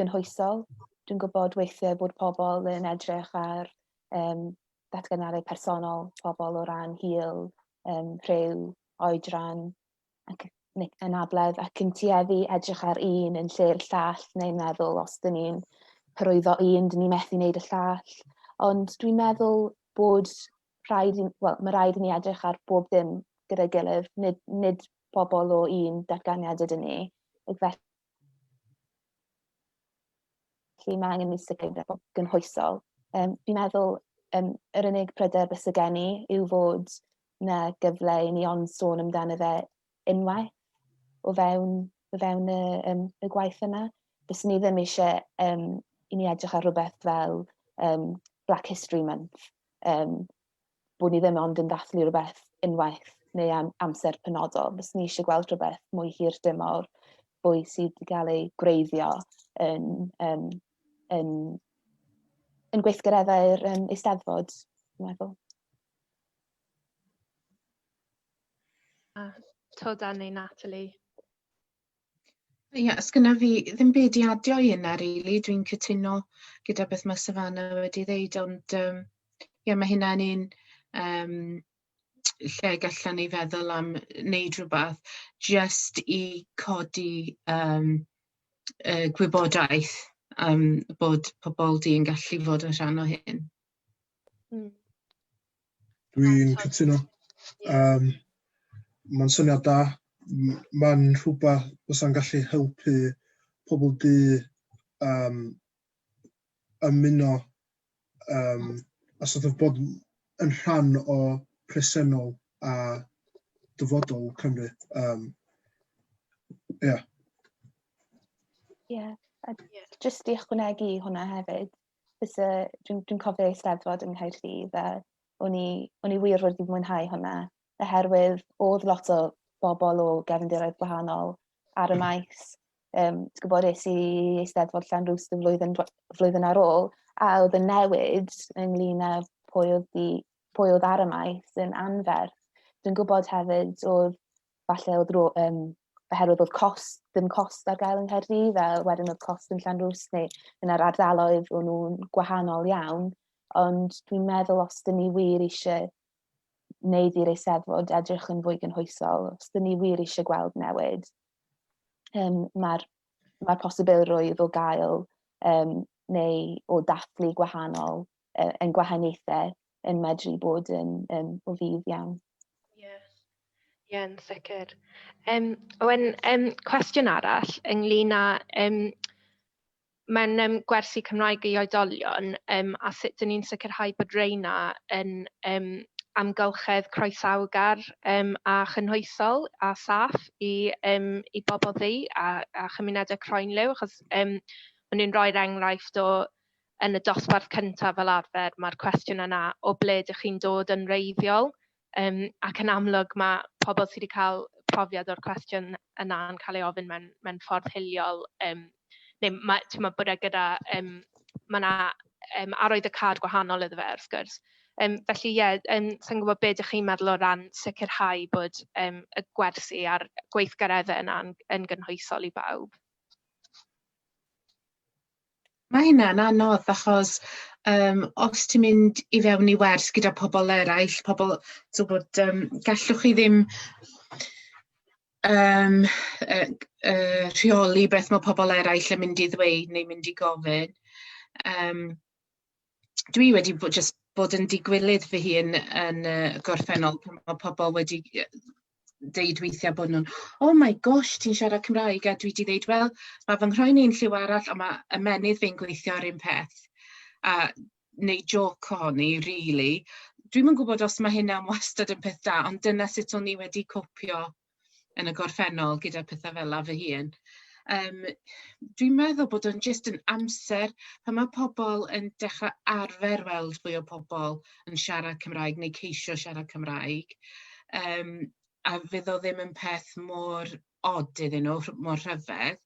gynhwysol. Dwi'n gwybod weithiau bod pobl yn edrych ar um, datganadau personol pobl o ran hil, um, rhyw, oedran ac anabledd ac yn tueddu edrych ar un yn lle'r llall neu'n meddwl os dyn ni'n hyrwyddo un, dyn ni methu wneud y llall. Ond dwi'n meddwl bod rhaid, well, mae rhaid i ni edrych ar bob dim gyda'i gilydd, nid, nid pobl o un datganiad ydyn ni. Felly Felly mae angen mislif a gynhwysol. Um, fi'n meddwl um, yr unig pryder bys y gen i yw fod na gyfle i ni ond sôn amdano fe unwaith o fewn, o fewn y, um, y gwaith yna. Bys ni ddim eisiau um, i ni edrych ar rhywbeth fel um, Black History Month, um, bod ni ddim ond yn dathlu rhywbeth unwaith neu am amser penodol. Fes ni eisiau gweld rhywbeth mwy hir dymor, fwy sydd wedi cael ei gwreiddio yn, yn, yn, yn gweithgareddau'r um, eisteddfod, dwi'n meddwl. A to dan neu Natalie? Ie, os gynnaf fi ddim byd i adio i yna rili, dwi'n cytuno gyda beth mae Savannah wedi ddeud, ond um, ie, mae hynna'n un um, lle gallan ni feddwl am wneud rhywbeth just i codi um, y gwybodaeth um, bod pobl di yn gallu fod yn rhan o hyn. Dwi'n cytuno. Um, Mae'n syniad da. Mae'n rhywbeth fysa'n gallu helpu pobl du um, ymuno um, a sort of bod yn rhan o presennol a dyfodol Cymru. Um, yeah. Yeah. A just i ychwanegu hwnna hefyd, byse, dwi'n dwi cofio eisteddfod yng Nghaerdydd a o'n i, o'n i wir wedi mwynhau hwnna, oherwydd oedd lot o bobl o gefndiroedd gwahanol ar y hmm. maes. Um, Ti'n gwybod, es i eisteddfod llan rhws y flwyddyn, flwyddyn ar ôl, a oedd y newid ynglyn â pwy oedd, di, pwy oedd ar y maes yn anferth. Dwi'n gwybod hefyd oedd falle oedd rôl, um, oherwydd oedd cost, ddim cost ar gael yng Nghaerdydd, a wedyn oedd cost yn Llanrwys neu yn yr ardaloedd o'n nhw'n gwahanol iawn. Ond dwi'n meddwl os dyn ni wir eisiau wneud i'r eiseddfod edrych yn fwy gynhwysol, os dyn ni wir eisiau gweld newid, um, mae'r mae posibilrwydd o gael um, neu o dathlu gwahanol yn gwahaniaethau yn medru bod yn um, o fydd iawn. Ie, yeah. yn sicr. Um, Owen, um, cwestiwn arall ynglyn â um, mae'n um, gwersi Cymraeg i oedolion um, a sut dyn ni'n sicrhau bod reina yn um, amgylchedd croesawgar um, a chynhwysol a saff i, um, i bobl ddi a, a chymunedau croenliw, achos um, maen nhw'n rhoi'r enghraifft o yn y dosbarth cyntaf fel arfer, mae'r cwestiwn yna o ble dych chi'n dod yn wreiddiol, um, ac yn amlwg mae pobl sydd wedi cael profiad o'r cwestiwn yna yn cael ei ofyn mewn, mewn ffordd hiliol, um, neu mae, ti'n meddwl bod e gyda, um, mae yna um, arwydd y cad gwahanol iddo fe, wrth gwrs. Um, felly, ie, yeah, um, sa'n gwybod beth ydych chi'n meddwl o ran sicrhau bod um, y gwersi a'r gweithgareddau yna yn, yn gynhwysol i bawb. Mae hynna'n anodd achos um, os ti'n mynd i fewn i wers gyda pobl eraill, pobl, so bod, um, gallwch chi ddim um, uh, uh, rheoli beth mae pobl eraill yn mynd i ddweud neu mynd i gofyn. Um, dwi wedi bod jyst bod yn digwilydd fy hun yn y gorffennol pan mae pobl wedi yy deud weithiau bod nhw'n oh my gosh ti'n siarad Cymraeg a dwi wedi dweud wel mae fy nghroen i'n lliw arall a mae ymennydd fi'n gweithio ar un peth a neu joc ohoni rili. Dwi'm yn gwybod os mae hynna'n wastad yn peth da ond dyna sut o'n i wedi copio yn y gorffennol gyda pethau fel 'na fy hun. Yym dwi'n meddwl bod o'n jyst yn amser pan mae pobl yn dechrau arfer weld fwy o pobl yn siarad Cymraeg neu ceisio siarad Cymraeg yym a fydd o ddim yn peth mor od iddyn nhw, mor rhyfedd,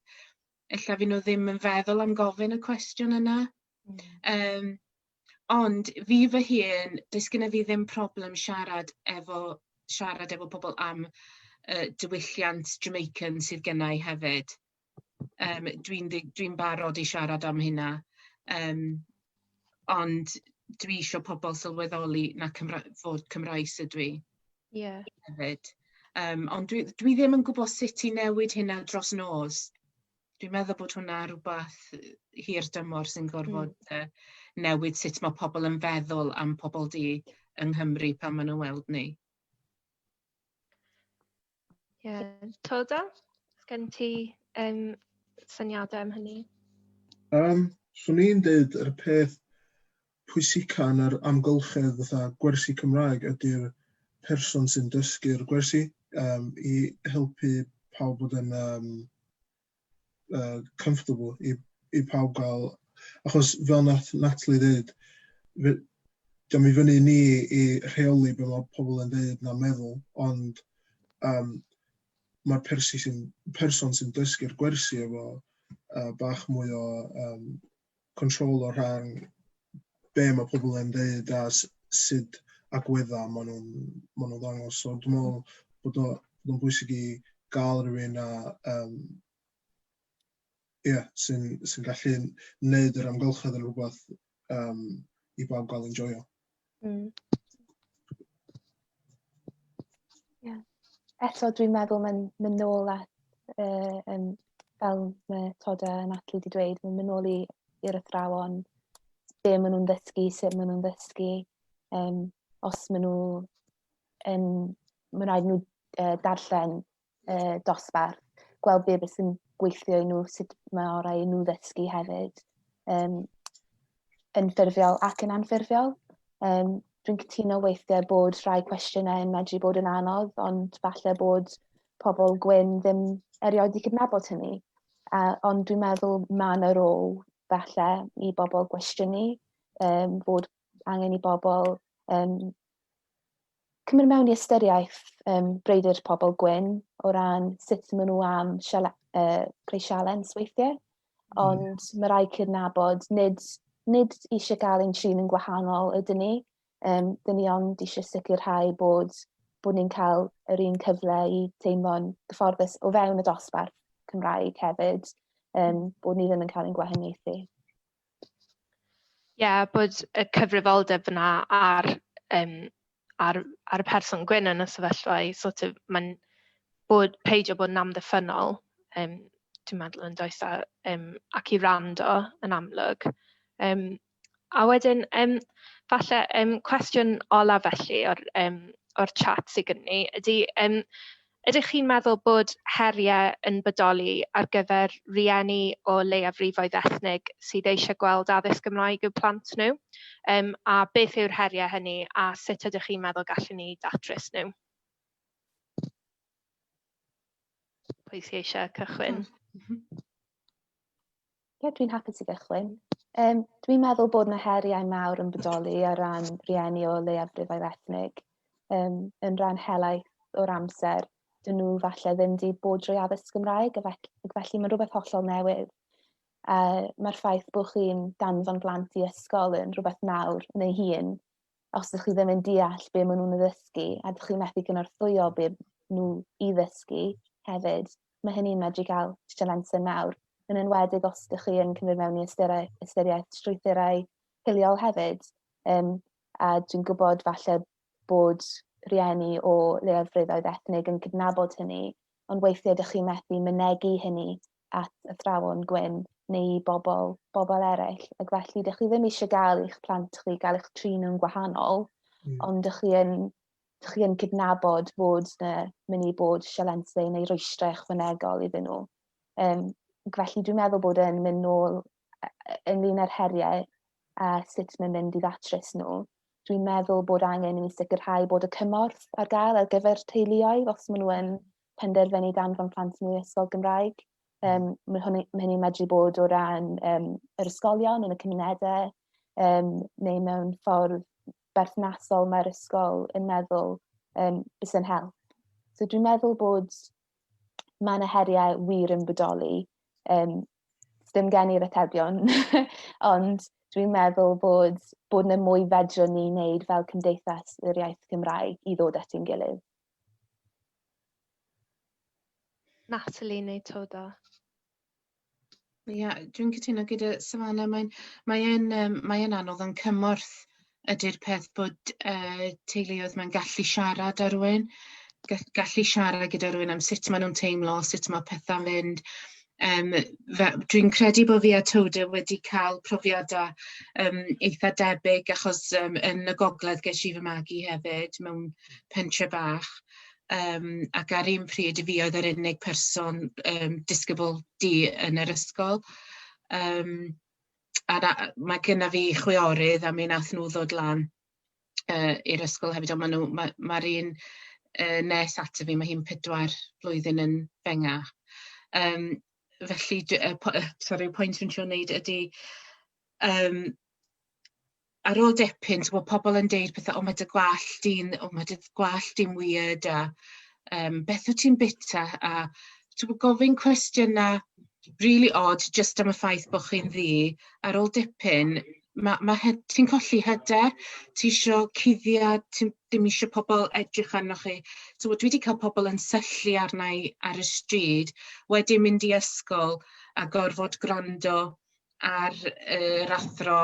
ella fy' nhw ddim yn feddwl am gofyn y cwestiwn yna. Hmm. Yym, ond fi fy hun, does gyda fi ddim problem siarad efo siarad efo pobl am y diwylliant Jamaican sydd gynna i hefyd. Yym, dwi'n ddi- dwi'n barod i siarad am hynna. Yym, ond dwi isio pobl sylweddoli na Cymra- fod Cymraes ydw i Ie. hefyd. Yym, ond dwi, dwi ddim yn gwybod sut i newid hynna dros nos. dwi'n meddwl bod hwnna rhywbeth hir dymor sy'n gorfod mm. uh, newid sut mae pobl yn feddwl am pobl di yng Nghymru pan maen nhw'n weld ni. Ie, yeah. Toda, gen ti um, syniadau am hynny? Um, swn i'n dweud yr peth pwysica yn yr amgylchedd fatha gwersi Cymraeg ydy'r person sy'n dysgu'r gwersi yym i helpu pawb bod yn yym yy comfortable i i pawb ga'l achos fel nath Natalie ddeud fe- dio'm i fyny i ni i rheoli be' ma' pobol yn ddeud na meddwl ond yym ma'r persi- sy'n person sy'n dysgu'r gwersi efo yy bach mwy o yym control o rhan be mae pobl yn dweud a sut agwedda maen nhw'n maen nhw'n ddangos. So dwi'n meddwl bod o'n bwysig i gael rhywun a um, yeah, sy'n sy gallu gwneud yr amgylchedd yn rhywbeth um, i bawb gael enjoyo. Mm. Yeah. Eto dwi'n meddwl mae'n mynd nôl at, uh, um, fel mae Todd a Natalie wedi dweud, mae'n mynd nôl i'r athrawon, be maen nhw'n ddysgu, sut maen nhw'n ddysgu, um, os maen nhw yn, mae'n rhaid nhw uh, darllen uh, dosbarth, gweld be beth sy'n gweithio i nhw, sut mae orau i nhw ddysgu hefyd, um, yn ffurfiol ac yn anffurfiol. Um, dwi'n cytuno weithiau bod rhai cwestiynau yn medru bod yn anodd, ond falle bod pobl gwyn ddim erioed i cydnabod hynny. Uh, ond dwi'n meddwl mae yna rôl falle i bobl gwestiynu um, fod angen i bobl um, cymryd mewn i ystyriaeth um, breidir pobl gwyn o ran sut maen nhw am siale, uh, creu sialens weithiau. Hmm. Ond mm. mae rhaid cydnabod, nid, nid eisiau gael ein trin yn gwahanol ydyn ni. Um, dyn ni ond eisiau sicrhau bod, bod ni'n cael yr un cyfle i teimlo'n gyfforddus o fewn y dosbarth Cymraeg hefyd, um, bod ni ddim yn cael ein gwahaniaethu. Ie yeah, bod y cyfrifoldeb yna ar um, ar, ar y person gwyn yn y sefyllfa i sort of, mae'n bod, peidio bod yn amddiffynol, um, dwi'n meddwl yn does, a, um, ac i rando yn amlwg. Um, a wedyn, um, falle, um, cwestiwn olaf felly o'r, um, o'r chat sydd gen ni, ydy, um, Ydych chi'n meddwl bod heriau yn bodoli ar gyfer rhieni o leiafrifoedd ethnig sydd eisiau gweld addysg Gymraeg i'w plant nhw? Um, a beth yw'r heriau hynny a sut ydych chi'n meddwl gallwn ni datrys nhw? Pwy sy'n eisiau cychwyn? Ie, dwi'n hapus i gychwyn. Um, dwi'n meddwl bod yna heriau mawr yn bodoli ar ran rhieni o leiafrifau ethnig. Um, yn rhan helaeth o'r amser, dyn nhw falle ddim wedi bod drwy addysg Gymraeg, ac felly mae'n rhywbeth hollol newydd. Uh, Mae'r ffaith bod chi'n danfon blant i ysgol yn rhywbeth nawr yn ei hun, os ydych chi ddim yn deall be maen nhw'n ddysgu a ydych chi'n methu cynorthwyo be nhw i ddysgu hefyd, mae hynny'n medru cael sialensen mawr, yn enwedig os ydych chi yn cymryd mewn i ystyriaeth, ystyriaeth strwythurau hiliol hefyd. Um, a dwi'n gwybod falle bod rhieni o leiafrifoedd ethnig yn cydnabod hynny, ond weithiau ydych chi'n methu mynegu hynny at athrawon gwyn neu i bobl, bobl eraill. Ac felly, dych chi ddim eisiau gael eich plant chi, gael eich trin nhw'n gwahanol, mm. ond dych chi yn, dych chi yn cydnabod bod yna mynd i bod sialensau neu rwystrau ychwanegol iddyn nhw. Um, felly, dwi'n meddwl bod yn mynd nôl ynglyn â'r heriau a sut mae'n mynd i ddatrys nhw. Dwi'n meddwl bod angen i ni sicrhau bod y cymorth ar gael ar gyfer teuluoedd os maen nhw yn penderfynu danfon plant nhw i ysgol Gymraeg. Um, mae hynny, mae hynny medru bod o ran um, yr ysgolion yn y cymunedau, um, neu mewn ffordd berthnasol mae'r ysgol yn meddwl um, bys yn help. So dwi'n meddwl bod mae yna heriau wir yn bodoli. Um, dim gen i'r atebion, ond dwi'n meddwl bod, bod yna mwy fedrwn ni wneud fel cymdeithas yr iaith Cymraeg i ddod at ein gilydd. Natalie neu Toda? Ie, yeah, dwi'n cytuno gyda Savannah. Mae'n mae e'n um, mae e'n anodd yn cymorth ydy'r peth bod uh, teuluoedd mae'n gallu siarad ar rhywun, gallu siarad gyda rhywun am sut maen nhw'n teimlo, sut mae pethau'n fynd, Yym, fe- dwi'n credu bod fi a Tode wedi cael profiadau yym eitha' debyg achos yym yn y gogledd ges i fy magu hefyd mewn pentre bach yym ac ar un pryd fi oedd yr unig person yym disgybl du yn yr ysgol yym a na- ma' gynna fi chwiorydd a mi nath nhw ddod lan yy i'r ysgol hefyd ond ma' nw ma' ma'r un yy nes ato fi ma' hi'n pedwar blwyddyn yn fengach. Yym felly j- yy po- yy sori y pwynt dwi'n trio neud ydi yym ar ôl dipyn t'mo' pobol yn deud pethe o ma' dy gwallt di'n o ma' dy gwallt di'n wierd a yym beth wt ti'n bita a t'mo' gofyn cwestiyna rili od jyst am y ffaith bod chi'n ddu, ar ôl dipyn, ma' ma' hy- ti'n colli hyder, ti isio cuddiad, ti ddim isio pobl edrych arnoch chi. T'mod dwi 'di cael pobl yn syllu arna i ar y stryd, wedyn mynd i ysgol a gorfod gwrando ar yr athro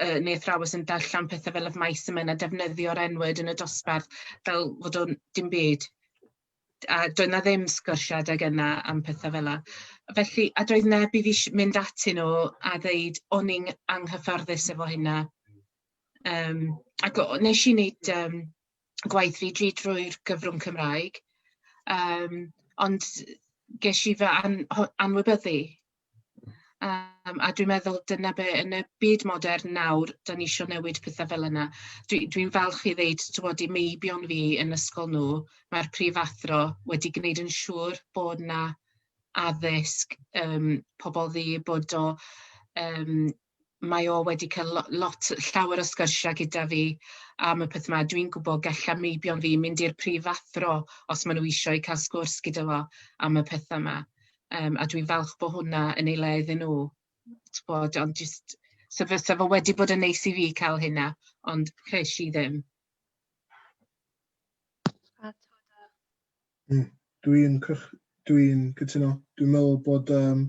yy neu athrawes yn darllen pethe fel of mice and men a defnyddio'r N-word yn y dosbarth fel fod o'n dim byd. a doedd 'na ddim sgyrsiau adeg yna am pethau fel 'na. Felly... a doedd neb i fi sh- mynd atyn nhw a ddeud o'n i'n anghyfforddus efo hynna. Yym, ac o- wnes i wneud yym gwaith fi dri drwy'r gyfrwng Cymraeg, yym, ond ges i fy an- ho- anwybyddu. Um, a dwi'n meddwl dyna be yn y byd modern nawr, da ni eisiau newid pethau fel yna. Dwi'n dwi, falch i ddeud, ti'n bod, i meibion fi yn ysgol nhw, mae'r prifathro wedi gwneud yn siŵr bod na addysg um, pobl ddi, bod o um, mae o wedi cael lo- lot... llawer o sgyrsiau gyda fi am y peth 'ma. Dwi'n gwybod galla meibion fi mynd i'r prifathro os maen nhw eisiau i cael sgwrs gyda fo am y pethau 'ma. Yym, a dwi'n falch bod hwnna yn ei le iddyn nhw. Tibod, ond jyst... so fysa fo wedi bod yn neis i fi cael hynna, ond ces i ddim. Mm, dwi'n cych... dwi'n cytuno. Dwi'n meddwl bod um,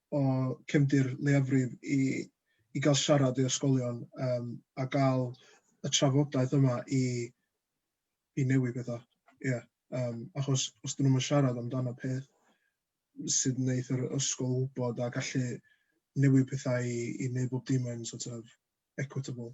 o cefndir leiafrif i i gael siarad i ysgolion yym a gael y trafodaeth yma i i newid pethau. Ie yym achos os dyn nhw'm yn siarad amdano peth sydd yn wneud yr ysgol wybod a gallu newid pethau i i wneud bob dim yn sort of equitable.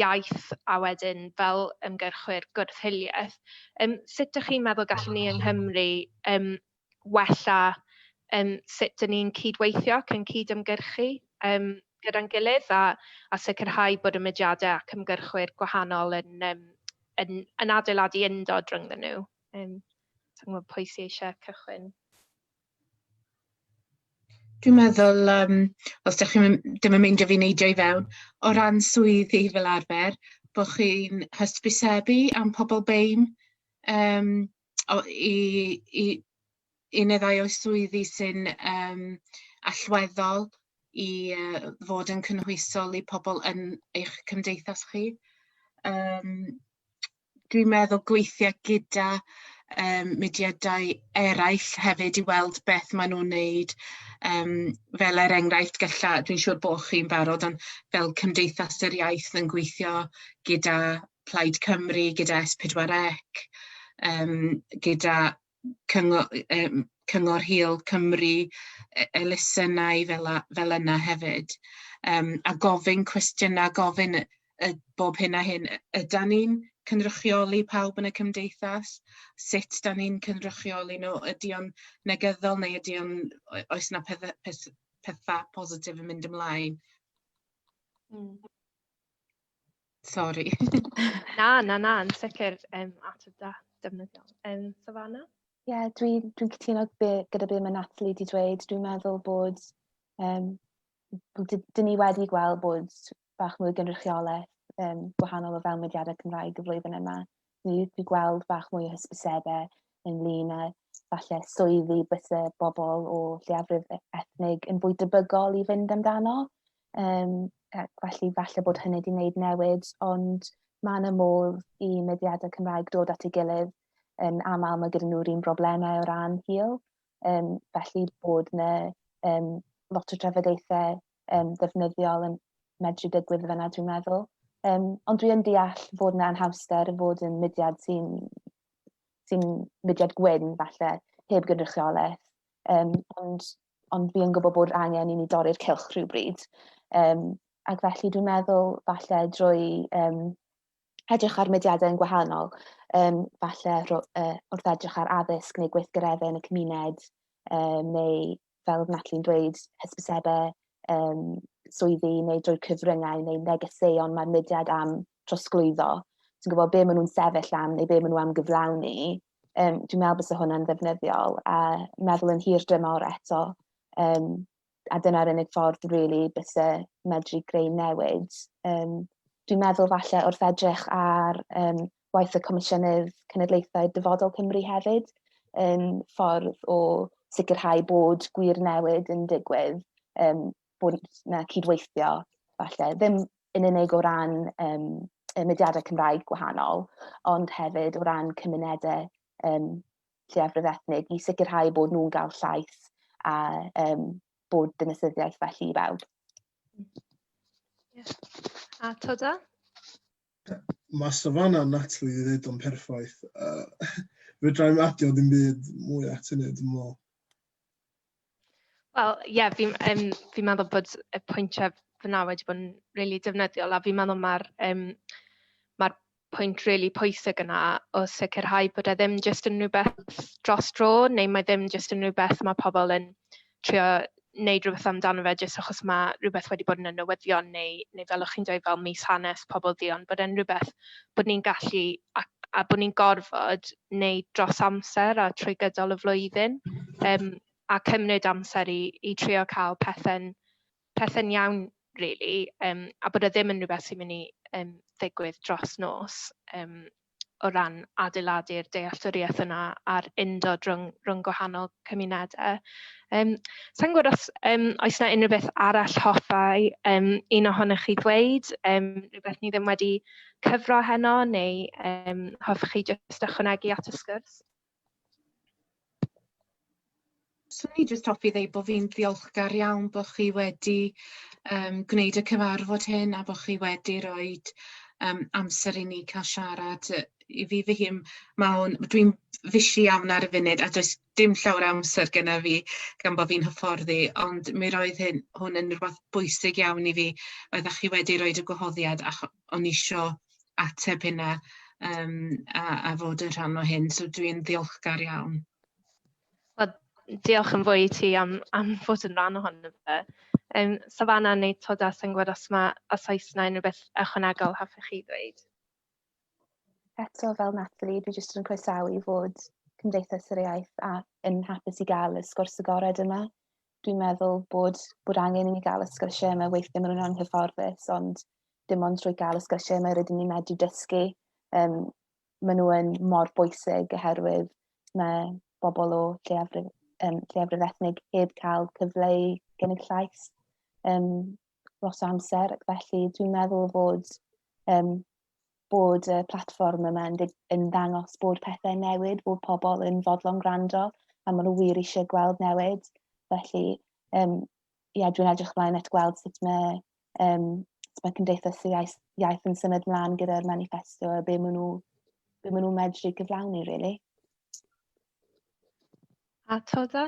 iaith a wedyn fel ymgyrchwyr gwrth-hiliaeth, yym sut dych chi'n meddwl gallwn ni yng Nghymru yym wella yym sut 'dyn ni'n cyd-weithio ac yn cyd-ymgyrchu yym gyda'n gilydd a a sicrhau bod y mudiadau ac ymgyrchwyr gwahanol yn yym yn yn adeiladu undod rhyngddyn nhw? Yym sa i'n gwbod pwy sy eisiau cychwyn? Dwi'n meddwl yym os 'dach chi'm yn dim yn meindio fi neidio i fewn o ran swyddi fel arfer bo' chi'n hysbysebu am pobol BEIN yym o i i i ne' ddau o swyddi sy'n yym allweddol i yy fod yn cynhwysol i pobol yn eich cymdeithas chi yym. dwi'n meddwl gweithio gyda um, mudiadau eraill hefyd i weld beth maen nhw'n wneud. Um, fel er enghraifft, gylla, dwi'n siŵr bod chi'n barod, ond fel Cymdeithas yr Iaith yn gweithio gyda Plaid Cymru, gyda S4C, um, gyda cyngo- yym Cyngor Hil Cymru, e- elusennau fel 'a fel yna hefyd yym a gofyn cwestiyna gofyn yy yy bob hyn a hyn yy ydan ni'n cynrychioli pawb yn y cymdeithas sut 'dan ni'n cynrychioli nw ydi o'n negyddol neu ydi o'n o- oes 'na pethe peth- petha positif yn mynd ymlaen? Hmm. Sorry. na, na, na, yn sicr um, at y da, defnyddiol. Um, Savannah? Ie, yeah, dwi'n dwi, dwi cytuno gyda beth mae Natalie wedi dweud. Dwi'n meddwl bod, um, dyn ni wedi gweld bod bach mwy o gynrychiolaeth um, gwahanol o fewn mediadau Cymraeg y flwyddyn yma. fydd i gweld bach mwy o hysbysebau ynglyn â falle swyddi byse bobl o lleiafrif e-, ethnig yn fwy debygol i fynd amdano. Um, felly falle bod hynny wedi gwneud newid, ond mae yna modd i mediadau Cymraeg dod at ei gilydd yn aml mae gyda nhw'r un broblemau o ran hil. Um, felly bod yna um, lot o trafodaethau um, ddefnyddiol yn medru digwydd yna, dwi'n meddwl. Um, ond dwi'n deall fod yna anhawster fod yn mudiad sy'n sy mudiad gwyn, falle, heb gynrychiolaeth. Um, ond, ond fi yn gwybod bod angen i ni dorri'r cilch rhywbryd. Um, ac felly dwi'n meddwl, falle, drwy um, edrych ar mudiadau yn gwahanol, um, falle uh, wrth edrych ar addysg neu gweithgareddau yn y cymuned, um, neu fel oedd Natalie'n dweud, hysbysebau um, swyddi neu drwy cyfryngau neu negeseuon mae'r mudiad am trosglwyddo, ti'n gwybod be maen nhw'n sefyll am neu be maen nhw am gyflawni, um, dwi'n meddwl bod hwnna'n ddefnyddiol a meddwl yn hir dymor eto, um, a dyna'r unig ffordd rili really, byse medru greu newid. Um, dwi'n meddwl falle wrth edrych ar um, waith y Comisiynydd Cenedlaethau Dyfodol Cymru hefyd yn ffordd o sicrhau bod gwir newid yn digwydd, um, bod yna cydweithio, falle, ddim yn unig o ran um, y mudiadau Cymraeg gwahanol, ond hefyd o ran cymunedau um, lleiafrif ethnig i sicrhau bod nhw'n gael llais a um, bod dynasyddiaeth felly i bawb. Yeah. A Toda? Mae savanna Natalie wedi dweud o'n perffaith. Uh, Fedra i'm adio ddim byd mwy at hynny, dwi'n meddwl. Wel, ie, yeah, fi'n um, fi meddwl bod y pwyntiau fyna wedi bod yn rili really defnyddiol a fi'n meddwl mae'r um, ma pwynt rili really pwysig yna o sicrhau bod e ddim jyst yn rhywbeth dros dro neu mae ddim jyst yn rhywbeth mae pobl yn trio wneud rhywbeth amdano fe jyst achos mae rhywbeth wedi bod yn y newyddion neu, neu fel o'ch chi'n dweud fel mis hanes pobl ddi ond bod e'n rhywbeth bod ni'n gallu a, a bod ni'n gorfod wneud dros amser a trwy gydol y flwyddyn um, a cymryd amser i, i trio cael pethau'n pethau iawn really um, a bod e ddim yn rhywbeth sy'n mynd i um, ddigwydd dros nos um, o ran adeiladu'r dealltwriaeth yna a'r undod rhwng, rhwng gwahanol cymunedau. Um, Sa'n gwybod os um, oes yna unrhyw beth arall hoffai um, un ohonych chi ddweud, um, rhywbeth ni ddim wedi cyfro heno, neu um, hoffech chi jyst ychwanegu at y sgwrs? Swn i jyst hoffi ddeud bod fi'n ddiolchgar iawn bod chi wedi yym gwneud y cyfarfod hyn a bod chi wedi roid yym amser i ni cael siarad yy i fi fy hun ma' o'n dwi'n fishi iawn ar y funud a does dim llawer o amser gyda fi gan bo' fi'n hyfforddi ond mi roedd hyn hwn yn rwbath bwysig iawn i fi oeddach chi wedi roid y gwahoddiad acho- o'n i isio ateb hynna um, a, a fod yn rhan o hyn, so dwi'n ddiolchgar iawn. Well, diolch yn fwy i ti am, am fod yn rhan ohono fe. Um, Savannah neu Toda, sy'n gwybod os mae a Saesnau yn rhywbeth ychwanegol hoffech chi ddweud? Eto fel Natalie, dwi jyst yn croesawu fod Cymdeithas yr Iaith a yn hapus i gael y sgwrs agored yma. dwi'n meddwl bod, bod angen i ni gael y sgyrsiau yma weithio mewn rhan hyfforddus, ond dim ond trwy gael y sgyrsiau yma rydyn ni'n medru dysgu. Um, maen nhw yn mor bwysig oherwydd mae bobl o lleiafrif, um, lleiafrif ethnig heb cael cyfle i gynnig llais um, lot o amser ac felly dwi'n meddwl fod um, bod y platfform yma yn, yn ddangos bod pethau'n newid, bod pobl yn fodlon gwrando a maen nhw wir eisiau gweld newid. Felly, um, ia, dwi'n edrych ymlaen at gweld sut mae, um, sut mae Cymdeithas y Iaith, iaith yn symud mlaen gyda'r manifesto a be maen nhw, be maen nhw medru gyflawni, really. A Toda?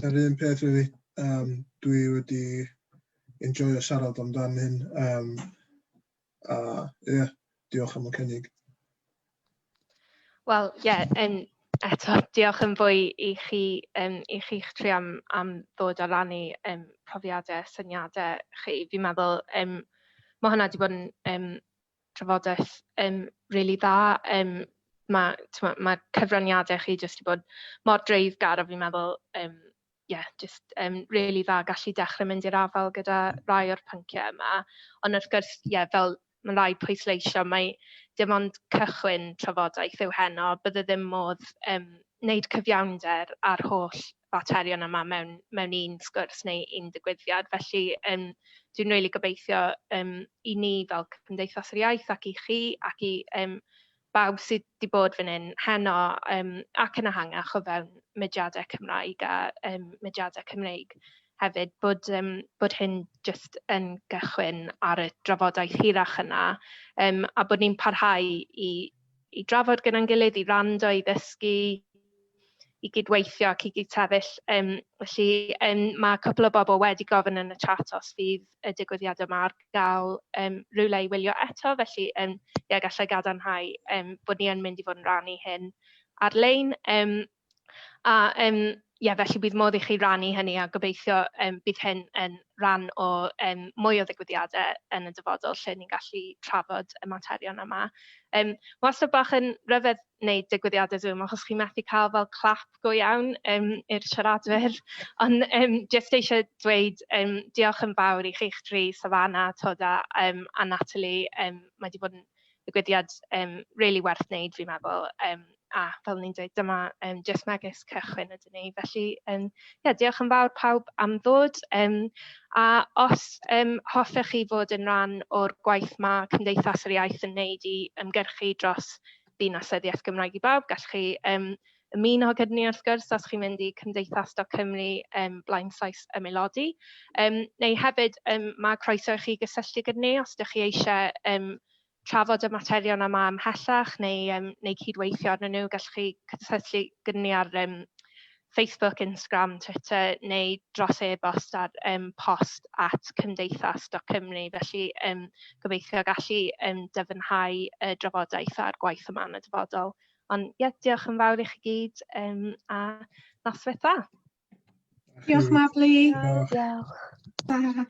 Yr un peth, really. Um, dwi wedi enjoyo siarad amdan hyn. Um, A ie, yeah, diolch am y cynnig. Wel, ie, yeah, um, eto, diolch yn fwy i chi, um, i chi'ch tri am, am ddod a rannu um, profiadau, syniadau chi. Fi'n meddwl, um, mae hwnna wedi bod yn um, trafodaeth um, really dda. Um, mae ma, ma cyfraniadau chi jyst wedi bod mor dreifgar a fi'n meddwl um, ie, jyst yn rili dda gallu dechrau mynd i'r afael gyda rai o'r pynciau yma. Ond wrth gwrs, ie, fel mae'n rhai pwysleisio, mae dim ond cychwyn trafodaeth yw heno. Bydde ddim modd um, wneud cyfiawnder ar holl faterion yma mewn, mewn un sgwrs neu un digwyddiad. Felly, um, dwi'n rili really gobeithio um, i ni fel Cymdeithas yr Iaith ac i chi ac i um, bawb sy 'di bod fan hyn heno yym ac yn ehangach o fewn mudiadau Cymraeg a yym mudiadau Cymreig hefyd bod yym bod hyn jyst yn gychwyn ar y drafodaeth hirach yna yym a bod ni'n parhau i i drafod gyda'n gilydd, i wrando, i ddysgu, i gydweithio ac i gyd-sefyll. Um, felly, um, mae cwpl o bobl wedi gofyn yn y chat os fydd y digwyddiad yma ar gael um, rhywle i wylio eto, felly um, ie, gallai gadarnhau um, bod ni yn mynd i fod yn rannu hyn ar-lein. Um, a um, ie, felly bydd modd i chi rannu hynny a gobeithio um, bydd hyn yn rhan o um, mwy o ddigwyddiadau yn y dyfodol lle ni'n gallu trafod y materion yma. Um, Mae wastad bach yn rhyfedd wneud digwyddiadau Zoom achos chi methu cael fel clap go iawn yym i'r siaradwyr. Ond yym jyst eisiau dweud yym diolch yn fawr i chi'ch dri, Savannah, Toda yym a Natalie. Yym mae 'di bod yn ddigwyddiad yym rili werth wneud fi'n meddwl, yym a fel o'n i'n dweud dyma yym jyst megis cychwyn ydyn ni. Felly yym ie diolch yn fawr pawb am ddod yym a os yym hoffech chi fod yn rhan o'r gwaith ma' Cymdeithas yr Iaith yn wneud i ymgyrchu dros Dinasoedd Iaith Gymraeg i Bawb, gallwch chi um, ymuno gyda ni wrth gwrs os chi'n mynd i Cymdeithas Doc Cymru um, blaen Saes Ymelodi. Um, neu hefyd um, mae croeso i chi gysylltu gyda ni os ydych chi eisiau um, trafod y materion yma ymhellach neu, um, neu cydweithio arnyn nhw, gallwch chi cysylltu gyda ni ar um, Facebook, Instagram, Twitter neu dros e-bost ar um, post at cymdeithas.cymru. Felly um, gobeithio gallu um, dyfynhau y drafodaeth a'r gwaith yma yn y dyfodol. Ond ie, yeah, diolch yn fawr i chi gyd um, a noswaith dda. Diolch Mabli. Diolch. Diolch.